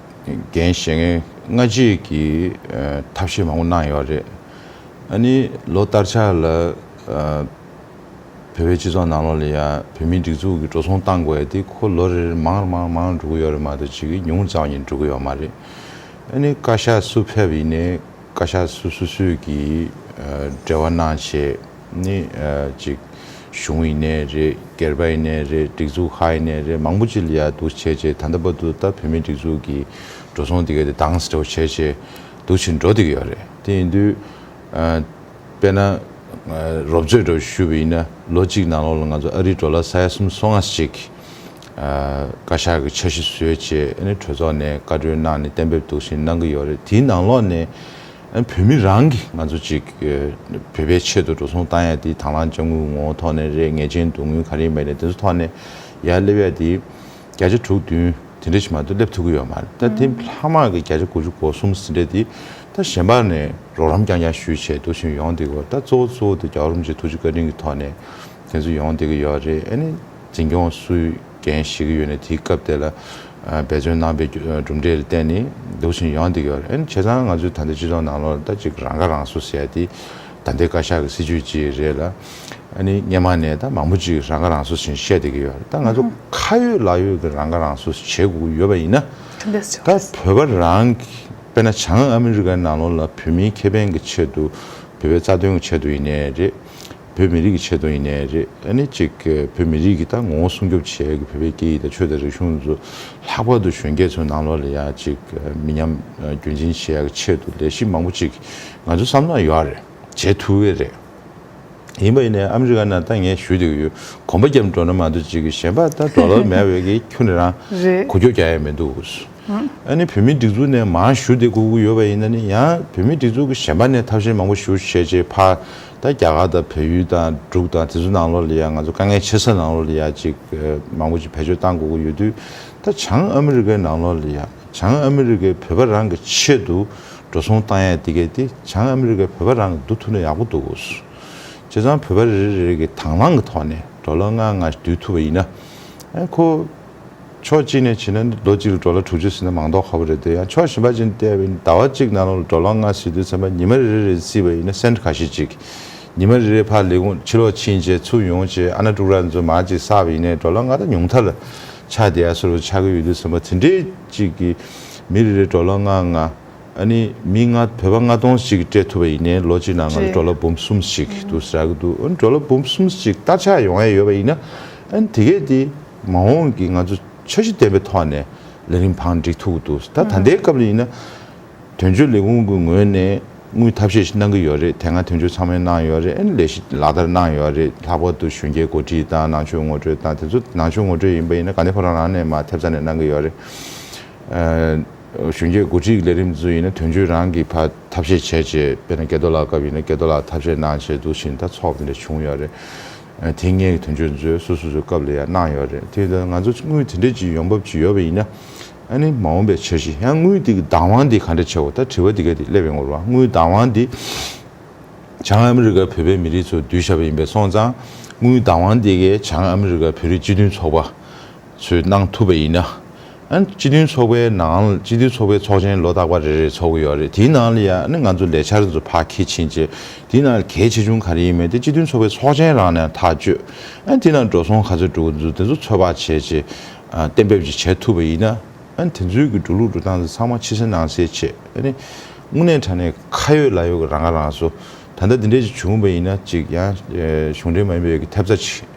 འགན་བཞེས་མཁན་སྔ་རྗེས་ཀྱི་ཐབས་ཤེས་མང་པོ་གནང་ཡོད་རེད། ཨ་ནི་ལོ་སྟར་ཆགས་ལ་བོད་པའི་སྤྱི་ཚོགས་ནང་ལོགས་ལ་ཡང་བོད་མིའི་སྒྲིག་འཛུགས་ཀྱི་འགྲོ་སོང་བཏང་དགོས་དེ་ཁོ་ལོ་རེར་རེར་མང་རེ་མང་མང་འགྲོ་གི་ཡོད་རེད་མ་གཏོགས་ཅིག་གིས་ཉུང་ཙམ་ཡང་འགྲོ་གི་ཡོད་མ་རེད། ཨ་ནི་བཀའ་ཤག་སུ་ཕེབས་ཡིན་ནའི་བཀའ་ཤག་སུ་སུ་སུས་ཀྱིས་འབྲེལ་བ་གནང་བྱས། ནི། གཅིག། གཞུང་ཡིན་ནའི་རེད། སྒེར་པ་ཡིན་ནའི་རེད། སྒྲིག་འཛུགས་ཧ་ཡིན་ནའི་རེད་མང་པོ་ཅིག་ལ་ཡར་འདུག་བྱས་རྗེས་ད་ལྟ་བར་དུ་ད་བོད་མིའི་སྒྲིག་འཛུགས་ཀྱི་འགྲོ་སོང་དེ་ག་དེ་དྭངས་སིད་འདྲ་བོ་བྱས་རྗེས་འདུག་བྱེད་འགྲོ་དེ་ག་ཡོད་རེད། དེ་ཡིན་དུས། དཔེར་ན། རོབ་ཙོས་འདྲ་བོ་ཞུས་པ་ཡིན་ན་ལོ་གཅིག་ནང་ལོགས་ལ་ང་ཚོ་ཨ་རིའི་འགྲོ་ལ་ས་ཡ་གསུམ་སོ་ལྔ་ཞིག་བཀའ་ཤག་གི་འཆར་གཞི་བཟོས་རྗེས་ཨ་ནི་གྲོས་ཚོགས་ནས་བཀའ་འཁྲོལ་གནང་ནས་གཏན་འབེབས་འདུག་བྱེད་གནང་གི་ཡོད་རེད་དེའི་ནང་ལོགས་ནས་བོད་མི་རང་གིས་ང་ཚོ་ཅིག་བོད་པའི་ཆེད་དུ་འགྲོ་སོང་བཏང་ཡ་དེ་དྭང་བླང་དཔྱ་དངུལ་ངོ་བོ་ཐོག་ནས་རེད་ངེས་ཅན་བསྡུ་དངུལ་ག་རེ་མེད་རེད་དེ་ཚོ་ཐོག་ནས་ཡར་སླེབས་ཡ་དེ་བརྒྱ་ཆ་དྲུག་བདུན་དེ་འདྲ་ཞིག་མ་གཏོགས་སླེབས་ཐུབ་ཀྱི་ཡོད་མ་རེད་ད་དེ་ལྷག་མ་གི་བརྒྱ་ཆ་དགུ་བཅུ་གོ་གསུམ་ཟིན་རེད་དེ་ད་གཞན་པ་ནས་རོགས་རམ་རྐྱང་རྐྱང་ཞུས་བྱས་འདུག་ཞིང་ཡོང་བསྡད་ཀྱི་ཡོད་ད་གཙོ་བོ་གཙོ་བོ་དེ་རྒྱ་གར་རུམ་ཅིག་ཐུགས་རྗེ་བཀའ་དྲིན་གྱི་ཐོག་ནས་དེ་ཚོ་ཡོང་བསྡད་ཀྱི་ཡོད་རེད་ཨ་ནི་འཛིན་སྐྱོང་སུའི། མཁན་ཞིག་ཡོད་ནས་དེའི་སྐབས་དེ་ལ་འབད་བརྩོན་གནང་པའི་གྲུབ་འབྲས་ལ་བརྟེན་ནས་སྡུག་ཅིང་ཡོང་སྡུག་ཡོད་རེད། ཨན་བྱས་ཙང་ང་ཚོའི་ད་ལྟའི་སྤྱི་ཚོགས་ནང་ལོག་ལྟ་ཅིག་རང་ཁ་རང་གསོ་བྱས་ཏེ། ད་ལྟའི་བཀའ་ཤག་གི་སྲིད་ཇུས་ཅིག་རེད་ལ། ཨ་ནི་སྙན་མ་ནས་ད་མང་པོ་ཅིག་རང་ཁ་རང་གསོ་བཞིན་བཤད་སྡུག་གི་ཡོད་རེད། ད་ང་ཚོ་ཁ་ཡོད་ལག་ཡོད་ཀྱི་རང་ཁ་རང་གསོ་བྱེད་དགོས་ཀྱི་ཡོད་པ་ཡིན་ན། ད་བོད་པ་རང་གི་དཔེར་ན་བྱང་ཨ་མི་རི་ཀའི་ནང་ལོག་ལ་བོད་མིའི་ཁེ་ཕན་གྱི་ཆེད་དུ། བོད་པའི་རྩ་དོན་གྱི་ཆེད་དུ་ཡིན་ནའི་རེད། བོད་མི་རིགས་ཀྱི་ཆེད་དུ་ཡིན་ནའི་རེད་ཨ་ནི་གཅིག་བོད་མི་རིགས་ཀྱི་ད་ངོ་བོ་སྲུང་སྐྱོབ་བྱེད་དགོས་བོད་པའི་སྐད་ཡིག་དང་ཆོས་དང་རིག་གཞུང་ཚོ་ལྷག་པར་དུ་གཞོན་སྐྱེས་ཚོའི་ནང་ལོགས་ལ་ཡ་གཅིག་མི་ཉམས་རྒྱུན་འཛིན་བྱེད་ཡག་གི་ཆེད་དུ་ལས་གཞི་མང་པོ་གཅིག་ང་ཚོ་བསམ་བློ་ཡོད་ཡག་རེད་བྱེད་ཐུབ་ཡོད་རེད་ཡིན་པ་ཡིན་ནའི་ཨ་མི་རི་ཀ་ནང་ད་ངས་ཞུ་དགོས་ཡོད་གོམ་པ་རྒྱབ་འགྲོ་ན་མ་གཏོགས་གཅིག་གཞན་པ་ད་འགྲོ་ལོག་མེད་བས་ཀྱི་ཁྱོད་ནི་རང་རེད་གོ་ཁྱོ་རྒྱག་ཡ་མི་འདུག་ཨ་ནི་བོད་མིའི་སྒྲིག་འཛུགས་ནས་མང་ཞུ་དེ་དགོས་ཀྱི་ཡོད་པ་ཡིན་ན་ནི་ཡང་བོད་མིའི་སྒྲིག་འཛུགས་ཀྱི་གཞན་པ་ནས་ཐབས་ཤེས་མང་པོ་ཞུ་བྱེད་ཅེས་ཕ། ད་རྒྱ་གར་དང་བལ་ཡུལ་དང་འབྲུག་དང་དེ་ཚོ་ནང་ལོགས་ལ་ཡང་ང་ཚོ་དཀའ་ངལ་ཆེ་ས་ནང་ལོགས་ལ་ཡང་ཅིག་མང་པོ་ཅིག་བེད་སྤྱོད་བཏང་དགོས་ཀྱི་ཡོད་དུས་ད་བྱང་ཨ་མི་རི་ཀའི་ནང་ལོགས་ལ་ཡང་བྱང་ཨ་མི་རི་ཀའི་བོད་པ་རང་གི་ཆེད་དུ་འགྲོ་སོང་བཏང་ཡག་འདི་གས་དེ་བྱང་ཨ་མི་རི་ཀའི་བོད་པ་རང་གི་འདུག་ཐུབ་ན་ཡག་པོ་འདུག་གོ། བྱས་ཙང་བོད་པ་རེ་རེ་རེ་རེ་གི་དང་བླང་གི་ཐོག་ནས་འགྲོ་ལ་སྔ་སྔ་ཞིག་འདུས་ཐུབ་པ་ཡིན་ན། ཁོ། ཕྱོགས་གཅིག་ནས་བྱིན་ན་ལོ་གཅིག་རུ་དྲོ་ལ་དྲུག་ཅུ་ཟིན་ན་མང་དོགས་ཁ་བོ་རེད་འདོད་ཡང་ཕྱོགས་ཞིམ་པ་ཅན་བལྟས་པས་ཟླ་བ་གཅིག་ནང་ལོ་ལ་དྲོ་ལོང་ལྔ་ཟིན་དུས་མཚན་པ་ཉི་མ་རེ་རེ་རེ་བརྩིས་པ་ཡིན་ན་སེམས་ཁ་ཤས་གཅིག་ཉི་མ་རེ་རེའི་ཕར་ལས་ཁུངས་ཕྱི་ལོགས་ཕྱིན་ཆད་ཚུར་ཡོང་ཆེད་ཨ་ན་ཀྲུག་ར་མཛོད་མ་གཅིག་བསགས་པ་ཡིན་ནའི་དྲོ་ལ་ལྔ་དང་ཉུང་མཐར་ཆ་དེ་ཡང་སོ་རུ་ཆགས་ཀྱི་ཡོད་དུས་མཚན་པ་དེ་འདྲའི་གཅིག་གིས་མི་རེ་རེར་དྲོ་ལ་ལྔ་ལྔ། ཨ་ནི་མི་ལྔ་བོད་པ་ལྔ་སྟོང་ཞིག་གིས་སྤྲད་ཐུབ་པ་ཡིན་ནའི་ལོ་གཅིག་ནང་ང་ལ་དྲོ་ལ་འབུམ་གསུམ་ཞིག་འདུག་ཟེར་གྱི་འདུག་འོན་ཀྱང་དྲོ་ལ་འབུམ་གསུམ་ཞིག་སྟར་ཆགས་ཡོང་ཡས་ཡོད་པ་ཡིན་ན་ཨན། དེ་གས་དེ་མ་འོངས་ཀྱི་ང་ཚོ་འཆར་གཞི་ལྡན་པའི་ཐོག་ནས་ལས་རིམ་འཕངས་འགྲིག་ཐུག་འདུག་ད་ད་ལྟའི་སྐབས་ལ་ཡིན་ན། དོན་གཅོད་ལས་ཁུངས་ཀྱི་ངོས་ནས་དངུལ་ཐབས་ཤེས་ཤིག་གནང་གི་ཡོད་རེད་དེ་སྔ་དོན་གཅོད་ཚང་མས་གནང་ཡོད་རེད་ཨན། ལས་གཞི་ལག་བསྟར་གནང་ཡོད་རེད་ལྷག་པར་དུ་གཞོན་སྐྱེས་གོ་སྒྲིག་དང་ནང་ཆོས་ངོ་སྤྲོད་དང་དེ་ཚོ་ནང་ཆོས་ངོ་སྤྲོད་ཡིན་པ་ཡིན་ན་ག་འདི་ཁོ་རང་རང་ནས་མ་ཐེབས་རྩ་ནས་གནང་གི་ཡོད་རེད། གཞོན་སྐྱེས་གོ་སྒྲིག་ལས་རིམ་ཚོ་ཡིན་ན་དོན་གཅོད་རང་གི་བར་ཐབས་ཤེས་བྱས་རྗེས་དཔེར་ན་སྐལ་རྡོ་ལགས་སྐབས་ཡིན་ན་སྐལ་རྡོ་ལགས་ཐབས་ཤེས་གནང་བྱས་འདུག་ཕྱིན་ད་ཚོགས་འདི་འདྲ་བྱུང་ཡོད་རེད། དེ་སྔའི་དོན་གཅོད་ཚོས་སོ་སོ་སོའི་སྐབས་ལ་ཡང་གནང་ཡོད་རེད་དེ། ང་ཚོ་དངུལ་དེ་འདྲས་ཀྱི་ཡོང་འབབ་ཅིག་ཡོད་པ་ཡིན་ན། ཨ་ནི་མ་འོངས་པའི་འཆར་གཞི་ཡང་དངུལ་དེ་གི་བདག་དབང་དེ་ག་འདྲ་བྱེད་དགོས་ད་དྲི་བ་དེ་ག་དེ་སླེབས་ཡོང་གི་རེད་བ་དངུལ་བདག་དབང་དེ། བྱང་ཨ་མི་རི་ཀར་བོད་པའི་མི་རིགས་ཚོ་བསྡུས་བཞག་པ་ཡིན་པས་སོང་ཙང་དངུལ་བདག་དབང་དེ་གས་བྱང་ཨ་མི་རི་ཀར་བོད་རིགས་སྤྱི་མཐུན་ཚོགས་པ། ཚོས་གནང་ཐུབ་པ་ཡིན་ན། སྤྱི་མཐུན་ཚོགས་པའི་ནང་སྤྱི་མཐུན་ཚོགས་པའི་ཚོགས་ཆེན་ལོ་རྟག་པ་རེ་རེ་ཚོགས་ཀྱི་ཡོད་རེད་དེའི་ནང་ལ་ཡང་ང་ཚོ་ལས་འཆར་ཚོ་ཕར་ཁས་ཕྱིན་བྱས་དེའི་ནང་ལ་གལ་ཆེ་ཆུང་ག་རེ་ཡིན་མིན་དེ་སྤྱི་མཐུན་ཚོགས་པའི་ཚོགས་ཆེན་རང་ནས་ཐག་གཅོད། དེའི་ནང་འགྲོ་སོང་ག་ཚོད་འགྲོ་གི་འདུག་དེ་ཚོ་ཚོད་དཔག་བྱས་རྗེས་གཏན་འབེབས་ཅིག་བྱེད་ཐུབ་པ་ཡིན་ན། དེ་ཚོའི་གི་འགྲོ་ལུགས་འགྲོ་སྟངས་ཚོ་ཚང་མ་ཕྱི་གསལ་ནང་གསལ་བྱས་ནས། དངོས་གནས་དྲ་གནས་ཁ་ཡོད་ལག་ཡོད་ཀྱི་རང་ཁ་རང་གསོ། ད་ལྟ་འདི་འདྲས་ཅིག་བྱུང་བ་ཡིན་ན་ཅིག་ཡང་གཞུང་འབྲེལ་མ་ཡིན་པའི་གི་ཐེབས་རྩ་ཅིག།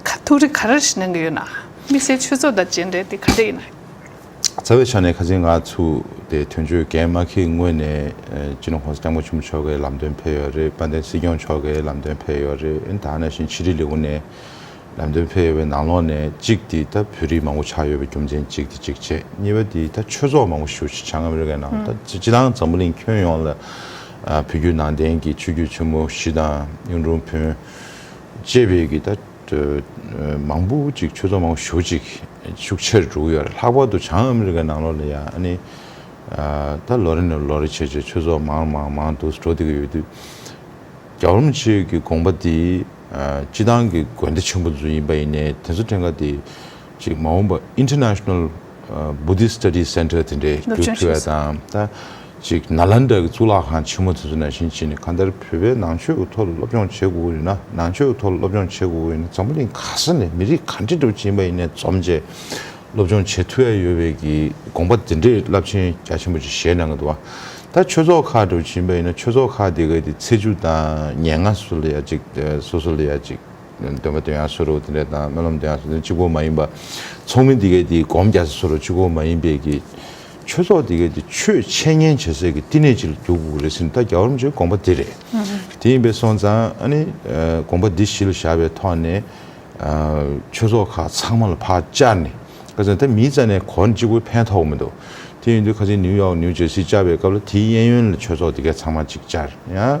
ཁ་ཐུག་རི་ག་རེ་ཞིག་གནང་གི་ཡོད་ན། དམིགས་བསལ་ཆོས་ཚོགས་དང་བཅས་འབྲེལ་དེ་ག་འདྲ་ཡིན་ན། རྩ་བའི་ཆ་ནས་ཁ་ཆེ་ང་ཚུ་དེ་དོན་གཅོད་རྒན་མ་ཁེ་ངོས་ནས་ཅི་ནུ་ཧོང་སི་ཀྲང་པོ་ཆུང་མཆོག་གི་ལམ་སྟོན་ཕེབས་ཡོད་རེད་དཔལ་ལྡན་སྲིད་སྐྱོང་མཆོག་གི་ལམ་སྟོན་ཕེབས་ཡོད་རེད་ཨིན་དང་ནས་བཞིན་ཕྱི་དྲིལ་ལེའུ་ནས་ལམ་སྟོན་ཕེབས་ཡོད་པའི་ནང་ལོགས་ནས་གཅིག་དེ་ད་བོད་རིགས་མང་པོ་ཆགས་ཡོད་པའི་རྒྱུ་མཚན་གཅིག་དེ་གཅིག་བྱས་གཉིས་པ་དེ་ད་ཆོས་ཚོགས་མང་པོ་ཞུ་ཆེ་བྱང་ང་མི་རི་ཀའི་ནང་ད་སྤྱི་དང་འཛམ་བུ་གླིང་ཁྱོན་ཡོངས་ལ་བོད་བརྒྱུད་ནང་བསྟན་གྱི་ཆོས་བརྒྱུད་ཆེན་མོ་བཞི་དང་གཡུང་དྲུང་བོན་ཅེས་པའི་གི་ད། མང་པོ་ཅིག་ཆོས་ཚོགས་མང་པོ་ཞུགས་ཅིག་ཤུགས་ཆེར་འགྲོ་གི་ཡོད་རེད་ལྷག་པར་དུ་བྱང་ཨ་མི་རི་ཀའི་ནང་ལོགས་ལ་ཡང་ཨ་ནི། ད་ལོ་རེ་ནས་ལོ་རེ་ཆེ་ཆེ་ཆོས་ཚོགས་མང་མང་མང་དུ་འགྲོ་བསྡད་ཀྱི་ཡོད་དུས། རྒྱ་རོམ་གཅིག་གི་དགོངས་པ་དེ། སྤྱི་བཏང་གི་དགོན་སྡེ་ཆེན་པོ་ཚོ་ཡིན་པ་ཡིན་ནའི་དེ་ཚོ་ཕྲན་ག་དེ། ཅིག་མ་འོངས་པ International Buddhist Studies Center དེ་འདྲའི་སྒྱུར་ཐུབ་ཡ་དང་ད་ཅིག Nalanda གི་གཙུག་ལག་ཁང་ཆེན་མོ་དེ་ཚོ་ནང་བཞིན་བྱས་ནས་གང་ལྟར་བོད་པའི་ནང་ཆོས་ཀྱི་ཐོག་ལ་སློབ་སྦྱོང་བྱེད་དགོས་ཡོད་ན་ནང་ཆོས་ཀྱི་ཐོག་ལ་སློབ་སྦྱོང་བྱེད་དགོས་ཡོད་ན་འཛམ་བུ་གླིང་ག་ས་ནས་མི་རིགས་ག་འདྲི་འདྲ་བ་ཅན་པ་ཡིན་ནས་འཛོམས་རྗེས་སློབ་སྦྱོང་བྱེད་ཐུབ་ཡ་ཡོད་པའི་གི་དགོངས་པ་དེ་འདྲས་རླབས་ཆེན་རྒྱ་ཆེན་པོ་ཅིག་བཞེས་གནང་གི་འདུག་བ་ད་ཆོས་ཚོགས་ཁག་འདྲ་བ་ཅན་པ་ཡིན་ན་ཆོས་ཚོགས་ཁག་དེ་ག་དེ་ཚེས་བཅུ་དང་ཉེར་ལྔ་སོ་ལ་ཡ་ཅིག་སོ་སོ་ལ་ཡ་ཅིག། འདོན་པ་དོན་ཡང་སུ་རུ་དེ་འདྲ་དང་སྨོན་ལམ་དོན་ཡང་སུ་དེ་གཅིག་པོ་མ་ཡིན་པ། ཚོགས་མི་འདི་གའི་དེ་སྒོམ་རྒྱ་ས་སུ་རུ་གཅིག་པོ་མ་ཡིན་པས་ཀྱི། ཆོས་ཚོགས་འདི་གའི་དེ་ཆོས་འཆད་ཉན་བྱེད་སའི་ཀྱི་བསྟི་གནས་གཅིག་ལ་འདུག་གོ་རེ་ཟིན་ད་རྒྱ་གར་བ་ཅིག་དགོངས་པ་འདི་རེད། དེ་ཡིན་པས་སོང་ཙང་ཨ་ནི། དགོངས་པ་འདི་གཞི་ལ་བཞག་པའི་ཐོག་ནས། ཆོས་ཚོགས་ཁག་ཚང་མ་ལ་བག་བཅར་ནས། ཁ་ཚོན་ད་མིའི་རྩ་ནས་གོ་ནས་གཅིག་པོ་ཕན་ཐོགས་མི་འདུག་དེ་ཡིན་དུས་ཁ་ཚིག་ནིའུ་ཡོག་ནིའུ་ཇེར་སི་བཅར་བའི་སྐབས་ལ་དེའི་གཡས་གཡོན་ལ་ཆོས་ཚོགས་འདི་གའི་ཚང་མ་ཅིག་བཅར་ཡང།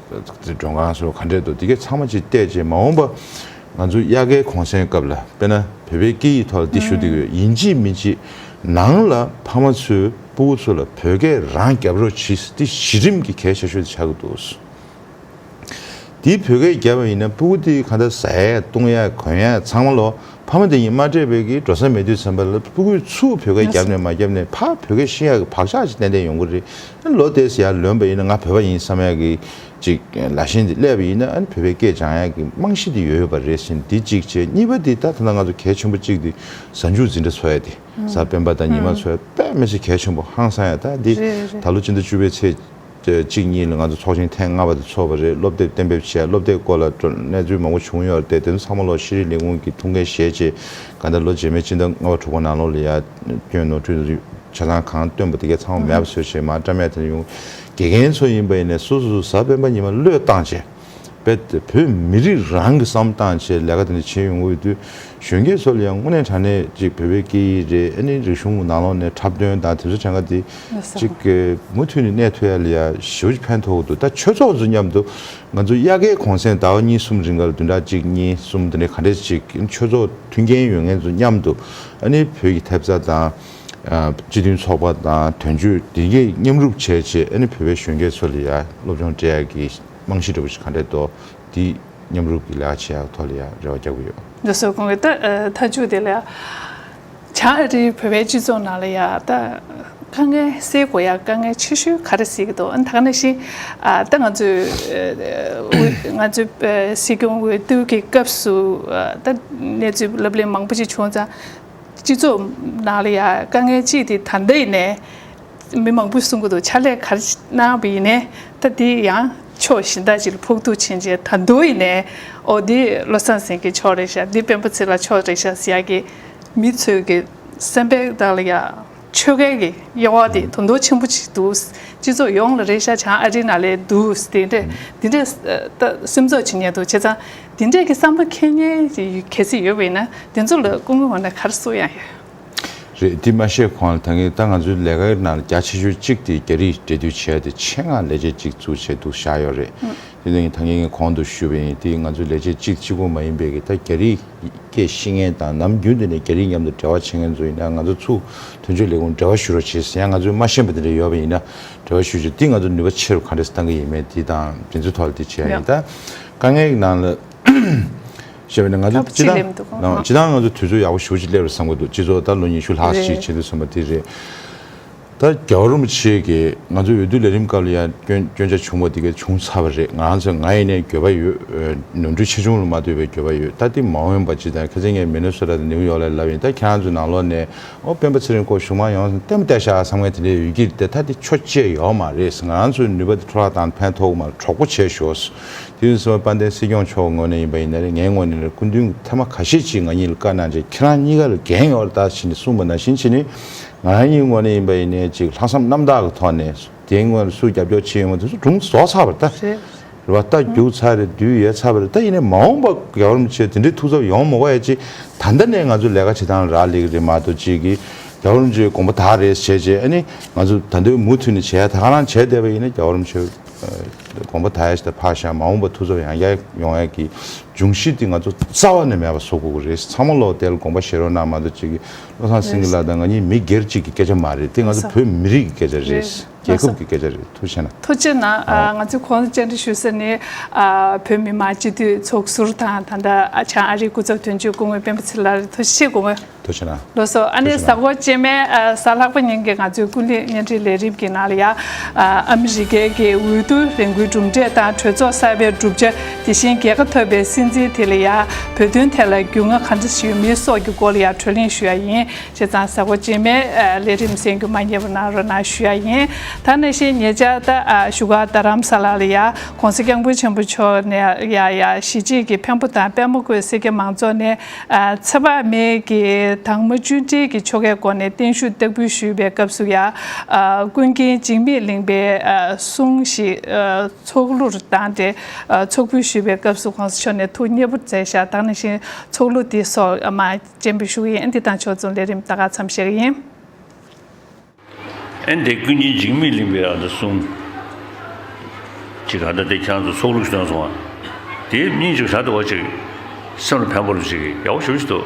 མགྲོན་ཁང་སོགས་ག་འདྲས་འདུག་དེ་གས་ཚང་མ་ཅིག་བལྟས་རྗེས་མ་འོངས་པ་ང་ཚོ་དབྱར་ཁའི་གུང་སེང་སྐབས་ལ་དཔེར་ན་བོད་པའི་སྐད་ཡིག་ཐོག་ལ་འདི་ཞུ་འདི་དགོས་ཡིན་ཅིག་མིན་ཅིག་ནང་ལ་ཕ་མ་ཚོས་སྤུ་བོ་ཚོ་ལ་བོད་སྐད་རང་རྒྱབ་རོགས་གྱིས་འདི་གཞི་རིམ་གྱི་གས་ཆ་ཤོས་དེ་ཆགས་ཀྱི་འདུག་འདི་བོད་སྐད་རྒྱབ་པ་ཡིན་ན་སྤུ་བོ་འདི་ག་འདྲ་ཟ་ཡས་བཏུང་ཡས་གོན་ཡས་ཚང་མ་ལོ་ཕ་མ་འདི་གཉིས་མ་སྤྲད་པའི་གིས་འགྲོ་ས་མེད་དུས་ཚན་པ་ལ་སྤུ་གུས་ཚུགས་བོད་སྐད་རྒྱབ་ནས་མ་རྒྱབ་ནས་ཕ་བོད་སྐད་ཤི་ཡས་ཀྱི་བག་ཆགས་ཅིག་ཏན་ཏན་ཡོང་གི་རེད། ལོ་དེའི་ཟེར་ཡག་ལོན་པ་ཡིན་ན་ང་བོད་པ་ཡིན་བསམ་ཡག་གི་ཅིག་ལ་བཞིན་འདི་ཀླད་པ་ཡིན་ན་ཨ་ནི་བོད་པའི་སྐད་སྦྱང་ཡག་གི་རྨང་གཞི་འདི་ཡོད་ཡོད་པ་རེད་བཞིན་འདི་གཅིག་བྱས་གཉིས་པ་འདི་ད་ཐ་ན་ང་ཚོ་གལ་ཆེན་པོ་གཅིག་འདི་གཟའ་མཇུག་འཛིན་གྲྭ་ཚོ་ཡ་དེ་གཟའ་སྤེན་པ་དང་ཉི་མ་ཚོ་ཡ་དཔེ་མེད་ཚེ་གལ་ཆེན་པོ་ཧང་སང་ཡ་ད་འདི་ད་ལོ་སྤྱི་ཟླ་བཅུ་པའི་ཚེས་གཅིག་གཉིས་ལ་ང་ཚོ་ཚོགས་ཆེན་ཐེངས་ལྔ་པ་དེ་ཚོགས་པ་རེད་སློབ་དེབ་གཏན་འབེབས་བྱས་སློབ་དེབ་སྐོར་ལ་གནས་ཚུལ་མང་པོ་བྱུང་ཡོད་རེད་དེ་ཚོ་ཚང་མ་ལོ་ཤེས་རིག་ལས་ཁུངས་ཀྱི་ཐུགས་འགན་བཞེས་རྗེས་ག་ད་ལོ་རྗེས་མའི་སྤྱི་ཟླ་ལྔ་བ་དྲུག་པ་ནང་ལོ་ལ་ཡ། སྐྱོན་ནོར་འཁྲུལ་རིགས་བྱེད་སྟངས་གང་སྟོན་པ་དེ་གས་ཚང་བ་མེད་པ་བཟོས་ཞེས་མ་བཀྲ་མེད་དེར་ཡོང། དགེ་རྒན་ཚོ་ཡིན་པ་ཡིན་ནས་སོ་སོ་ཟ་སྤེན་པ་ཉི་མ་བློས་བཏང་བྱས། རྦད་དེ་བོད་མི་རིགས་རང་གི་བསམ་སྟངས་ཆེད་ལས་ཀ་དེ་འདྲ་བྱེད་ཡོང་འོས་དུས་གཞོན་སྐྱེས་ཚོ་ལ་ཡང་དངོས་གནས་དྲ་གནས་ཅིག་བོད་པའི་སྐད་ཡིག་རེད་ཨེ་ནི་རིག་གཞུང་ནང་ལོག་ནས་འཁྲབ་སྟོན་དང་དེ་ཚོ་བྱེད་འགའ་དེ་ཅིག་མུ་མཐུད་ནས་གནས་ཐུ་ཡ་ལི་ཡ་ཞི་བ་ཅིག་ཕན་ཐོག་འདུག་ད་ཆོས་ཚོགས་ཚོ་མཉམ་དུ་ང་ཚོ་དབྱར་ཁའི་གོང་སེང་ཟླ་བ་གཉིས་གསུམ་རིང་ག་ལ་བདུན་ཕྲག་གཅིག་གཉིས་གསུམ་དེ་འདྲའི་ག་འདྲས་ཅིག་ཆོས་ཚོགས་མཐུན་རྐྱེན་ཡོད་མཁན་ཚོ་མཉམ་དུ་ཨ་ནི་བོད་ཀྱི་ཐེབས་རྩ་དང། སྤྱི་མཐུན་ཚོགས་པ་དང་དོན་གཅོད་བདེ་འགེགས་མཉམ་རུབ་བྱས་རྗེས་ཨ་ནི་བོད་པའི་གཞོན་སྐྱེས་ཚོ་ལ་ཡ་སློབ་སྦྱོང་སྤྲད་ཡག་གི་རྨང་གཞི་འདྲ་པོ་ཞིག་ག་འདྲས་གཏོ་དེ་མཉམ་རུབ་ཀྱི་ལེའ་བྱས་ཡག་ཐོག་ལ་ཡ་རེ་བ་རྒྱག་གི་ཡོད། འདི་སོགས་གོང་གི་ཏའི་མཐའ་འཇུག་དེ་ལེའ་བྱ་ཨ་རིའི་བོད་པའི་སྤྱི་ཚོགས་ནང་ལ་ཡ་ཏའི། དཀའ་ངལ་སེལ་དགོས་ཡ་དཀའ་ངལ་ཆེ་ཤོས་ག་རེ་སེལ་གི་འདུག་ད་ནང་བཞིན་ད་ང་ཚོའི་ང་ཚོའི་སྲིད་སྐྱོང་འོས་བསྡུ་གི་སྐབས་སུ་ད་གནས་ཚུལ་ལབ་གླེང་མང་པོ་ཞིག་བྱུང་ཙང་སྤྱི་ཚོགས་ནང་ལ་ཡ་དཀའ་ངལ་ཅི་དེ་ད་ལྟ་ཡིན་ནས་མི་མང་པོས་གསུང་གི་འདུག་ཕྱག་ལས་ག་རེ་གནང་བ་ཡིན་ནས་ད་དེ་ཡང་ཕྱོགས་གཞན་དག་ཅིག་ལ་ཕུགས་འདུག་ཕྱིན་ཆད་ད་དུང་ཡིན་ནས་ཨོ་འདི་བློ་བཟང་སེང་གེ་ཕྱོགས་རེད་ཤག་འདི་སྤེན་པ་ཚེ་ལ་ཕྱོགས་རེད་ཤག་ཟེར་ཡག་གི་མི་ཚོས་གི་སེམས་པས་བདག་ལ་ཡ། ཆོལ་ཁའི་གི་དབྱེ་བ་དེ་དོན་དོ་ཆེན་པོ་ཆིག་འདུག་སྤྱི་ཚོགས་ཡོངས་ལ་རེ་ཤ་ཆང་ཨ་རི་ན་ལས་འདུག་དེ་འདྲས་དེ་འདྲས་ད་སེམས་ཚོགས་བྱེད་ཉེན་འདུག་བྱས་ཙང་དེ་འདྲས་གི་བསམ་བློ་འཁེལ་ཉེན་གལ་སྲིད་ཡོད་པའི་ན་དེ་ཚོ་ལ་སྐུ་ངོ་བ་ན་གར་སུ་ཡང་ཡོད། རེད་དེ་མ་ཤེས་གོང་ལ་ད་ངས་ད་ང་ཚོའི་ལས་ཀའི་ནང་ལ་རྒྱ་ཆེ་ཤོས་གཅིག་དེ་རྒྱ་རིགས་འབྲེལ་མཐུད་བྱས་ཏེ་ཆེད་མངགས་ལས་བྱེད་ཅིག་བཙུགས་བྱས་འདུག་བཞག་ཡོད་རེད། དེ་ལས་ངས་ད་ངེད་ངའི་གོང་དུ་ཞུས་པ་ཡིན་དེ་ང་ཚོའི་ལས་བྱེད་གཅིག་གཅིག་པོ་མ་ཡིན་པའི་གིས་ད་རྒྱ་རིགས་སྐད་ཤེས་མཁན་དང་ནམ་རྒྱུན་དུ་ནས་རྒྱ་རིགས་མཉམ་དུ་འབྲེལ་བ་བྱེད་མཁན་ཚོ་ཡིན་ན་ང་ཚོ་ཚུ་དོན་གཅོད་ལས་ཁུངས་འབྲེལ་བ་ཞུ་རོགས་བྱེད་ཟེར་ཡང་ང་ཚོའི་མ་ཤེས་པ་དེ་འདྲ་ཡོད་པ་ཡིན་ན་འབྲེལ་བ་ཞུ་ཆོག་དེ་ང་ཚོ་ནུས་པ་ཆེ་རུ་ག་འདྲས་བཏང་གི་ཡིན་མེད་དེ་དང་འབྲེལ་མཚུ་ཐོག་ལ་དེ་བྱས་ཡ་ཡིན་ད་དཀའ་ངལ་གི་ནང་ལ་བཤད་པ་ནི་ང་ཚོ་སྤྱི་ཐང་སྤྱི་ཐང་ང་ཚོ་དུས་ཚོད་ཡག་པོ་ཞུ་བ་ཅིག་སླེབས་རེད་བསམ་གི་འདུག་སྤྱི་ཚོགས་ད་ལོ་ཉི་ཤུ་ལྷག་ཞིག་བྱེད་འདུག་བསམ་པ་དེ་རེད། ད་རྒྱ་རོ་མོ་ཆེ་གི་ང་ཚོའི་འོས་བསྡུ་ལས་རིམ་སྐབས་ལ་ཡང་སྐྱོན་ཆ་ཆུང་བ་དེ་ག་བྱུང་ཚར་བ་རེད་ང་ཚོ་ང་ཡི་ནས་འགྱོད་པ་ཡོད་ནོར་འཁྲུལ་ཆེ་ཆུང་ལ་མ་འདོད་པའི་འགྱོད་པ་ཡོད་ད་དེ་མ་འོན་པ་ཅི་དང་ཁ་ཚིག་ངས་མེ་ནོ་སོ་ར་དང་ནེའུ་ཡོག་ལས་ལབ་ཡིན་ད་ཁྱེད་ཚོ་ནང་ལོག་ནས་ཨོ་སྤེན་པ་ཚེ་རིང་སྐོར་གཞུང་མང་ཡོང་ལྟད་མོ་ལྟད་ཤག་བསམ་ངན་དེ་འདྲའི་ཡོད་ཀྱི་རེད་ད་དེ་ཆོ་བཅས་ཡོག་མ་རེད་ང་ཚོའི་ནུས་པ་དེ་འཕྲོ་བརླག་དང་ཕན་ཐོག་མར་གྲོགས་པོ་བྱས་ཞོགས་དེ་བཞིན་སོ་དཔལ་ལྡན་སྲིད་སྐྱོང་མཆོག་ངོས་ནས་ཡིན་པ་ཡིན་ན་རེད་ངའི་ངོས་ནས་རེད་སྐུ་མདུན་གྱི་ཐེངས་མ་ཁ་ཤས་ཅིག་ང་གཉིས་ལ་བཀའ་གནང་རྗེས་ཁྱེད་རང་གཉིས་ཀ་ལ་འགན་ཡོད་རེད་ད་ཕྱིན་ནས་གསུངས་པ་ནང་བཞིན་བྱས་ནས་ང་ཡང་གཉིད་སྔོན་ནས་ཡིན་པ་ཡིན་ནའི་ཅིག་ལྷག་བསམ་རྣམ་དག་གི་ཐོག་ནས་དེའི་སྔོན་སུ་རྒྱབ་སྐྱོར་བྱེད་ཡོང་བ་དེ་ཚོ་སྒྲུང་བཟོ་ཚར་བ་རེད་རེད་བ་རྟ་རྒྱུག་ཚར་རེད་དུས་ཡལ་ཚར་བ་རེད་ད་ཡིན་ནའི་མ་འོངས་པ་རྒྱ་གར་མི་ཚོས་དེ་འདྲའི་ཐུགས་འཚབ་ཡོང་མི་དགོས་ཡ་ཅིག་ད་ལྟ་ནས་ང་ཚོ་ལས་ཀ་བྱེད་སྟངས་རག་ལེ་གི་རེད་མ་གཏོགས་ཅིག་གིས་རྒྱ་གར་མི་ཚོས་དགོངས་པ་དག་རེད་བྱས་བྱས་ཨ་ནི་ང་ཚོ་ད་འདོད་མུ་མཐུད་ནས་བྱས་ཡ་ད་ག་རང་བྱས་བསྡད་པ་ཡིན་ནའི་རྒྱ་གར་མི་ཚོས་དགོངས་པ་དག་ཡ་ཞིག་ད་ཕར་བཞག་མ་འོངས་པ་ཐུགས་འཚབ་ཡང་བསྐྱར་ཡོང་ཡ་གི་འབྱུང་གཞི་དེ་ང་ཚོ་རྩ་བ་ནས་མེད་པ་བཟོ་དགོས་ཀི་རེད་ཚང་མ་ལོག་བསྡད་ལ་དགོངས་པ་བཞེས་རོགས་གནང་མ་གཏོགས་ཅིག་གིས་བློ་བཟང་སེང་གེ་ལགས་དང་ང་གཉིས་མི་སྒེར་གཅིག་གི་སྐད་ཆ་མ་རེད་དེ་ང་ཚོ་བོད་མི་རིགས་ཀྱི་སྐད་ཆ་རེད་རྒྱལ་ཁབ་ཀྱི་སྐད་ཆ་རེད་ཐུགས་ཆེ་ན། ཐུགས་ཆེ་ན་ང་ཚོས་ཁོང་ལ་བཅར་འདྲི་ཞུ་ས་ནི། བོད་མི་མང་སྤྱི་འཐུས་ཚོགས་ཟུར་དང་ད་ལྟ་བྱང་ཨ་རིའི་སྐུ་ཚབ་དོན་གཅོད་སྐུ་ངོ་སྤེན་པ་ཚེ་ལ་རེད་ཐུགས་ཆེ་སྐུ་ངོ། ཐུགས་ཆེ་ན། ལོ་སོ་ཨ་ནེ་ཟ་ཧོར་སྐྱེས་མའི་གཟའ་ལྷག་པ་ཉིན་གྱི་ང་ཚོའི་ཀུན་གླེང་བརྙན་འཕྲིན་ལས་རིམ་གྱི་ནང་ལ་ཡང། ཨ་མི་རི་ཀའི་འོས་བསྡུ་ལས་འགུལ་གྲུབ་འབྲས་དང་གྲོས་ཚོགས་གསར་པའི་གྲུབ་ཆ། དེ་བཞིན་རྒྱལ་ཁ་ཐོབ་པའི་སྲིད་འཛིན་དེ་ལ་ཡང་བོད་དོན་ཐད་ལ་རྒྱུས་མངའ་ག་འདྲ་ཞིག་ཡོད་མིན་སོགས་ཀྱི་སྐོར་ལ་ཡང་གྲོས་གླེང་ཞུ་ཡ་ཡིན་ཞེས་ཚང་གཟའ་འཁོར་རྗེས་མའི་ལས་རིམ་གསན་རྒྱུ་མ་རྙེད་པ་གནང་རོགས་གནང་ཞུ་ཡ་ཡིན། ད་ནས་བཤད་ཉེ་ཆར་ད་བཞུགས་སྒར་རྡ་རམ་ས་ལ་ལ་ཡང ྋགོང་ས་སྐྱབས་མགོན་ཆེན་པོ་མཆོག་ནས་ཡང་གཞིས་བྱེས་ཀྱི་བེམ་པོ་དང་དཔལ་མོ་བཀོད་སེར་སྐྱ་མང་ཚོགས་ནས་ཚེ་དཔག་མེད་ཀྱི་དྭངས་མ་བཅུད་འདྲིལ་གྱི་ཆོ་གའི་སྒོ་ནས་བརྟན་བཞུགས་སྟེགས་འབུལ་ཞུས་པའི་སྐབས་སུ་ཡང་ཀུན་མཁྱེན་འཇིགས་མེད་གླིང་པའི་གསུང་ཞིག་ཚོགས་གླུ་རུ་བཏང་སྟེ་ཚོགས་ཕུད་ཞུས་པའི་སྐབས་སུ་ཁོང་ཕྱོགས་ནས་ཐུགས་མཉེས་པོར་མཛད་བཞག་དང་ནང་བཞིན་ཚོགས་གླུ་འདི་སོགས་མ་བརྒྱན་པའི་ཞུ་ཡིག་ཨན་དི་དང་ཕྱོགས་མཚུངས་ལས་རིམ་དག་ག་ཚམ་ཞིག་ཡིན། ཨན་དེ་ཀུན་གྱི་འཇིགས་མེད་གླིང་པའི་ཨ་མདོ་གསུམ། གྱི་ཁ་བརྡ་སྟེ་ཁྱང་དུ་ཚོགས་གླུ་ཞུ་སྟངས་སོང་བ་དེའི་སྙིང་ཅིག་ཧྲལ་དུ་བ་ཅིག་སེམས་ལ་ཕན་པོ་ལོ་ཅིག་ཡག་པོ་ཞུ་བཞིན་འདུག།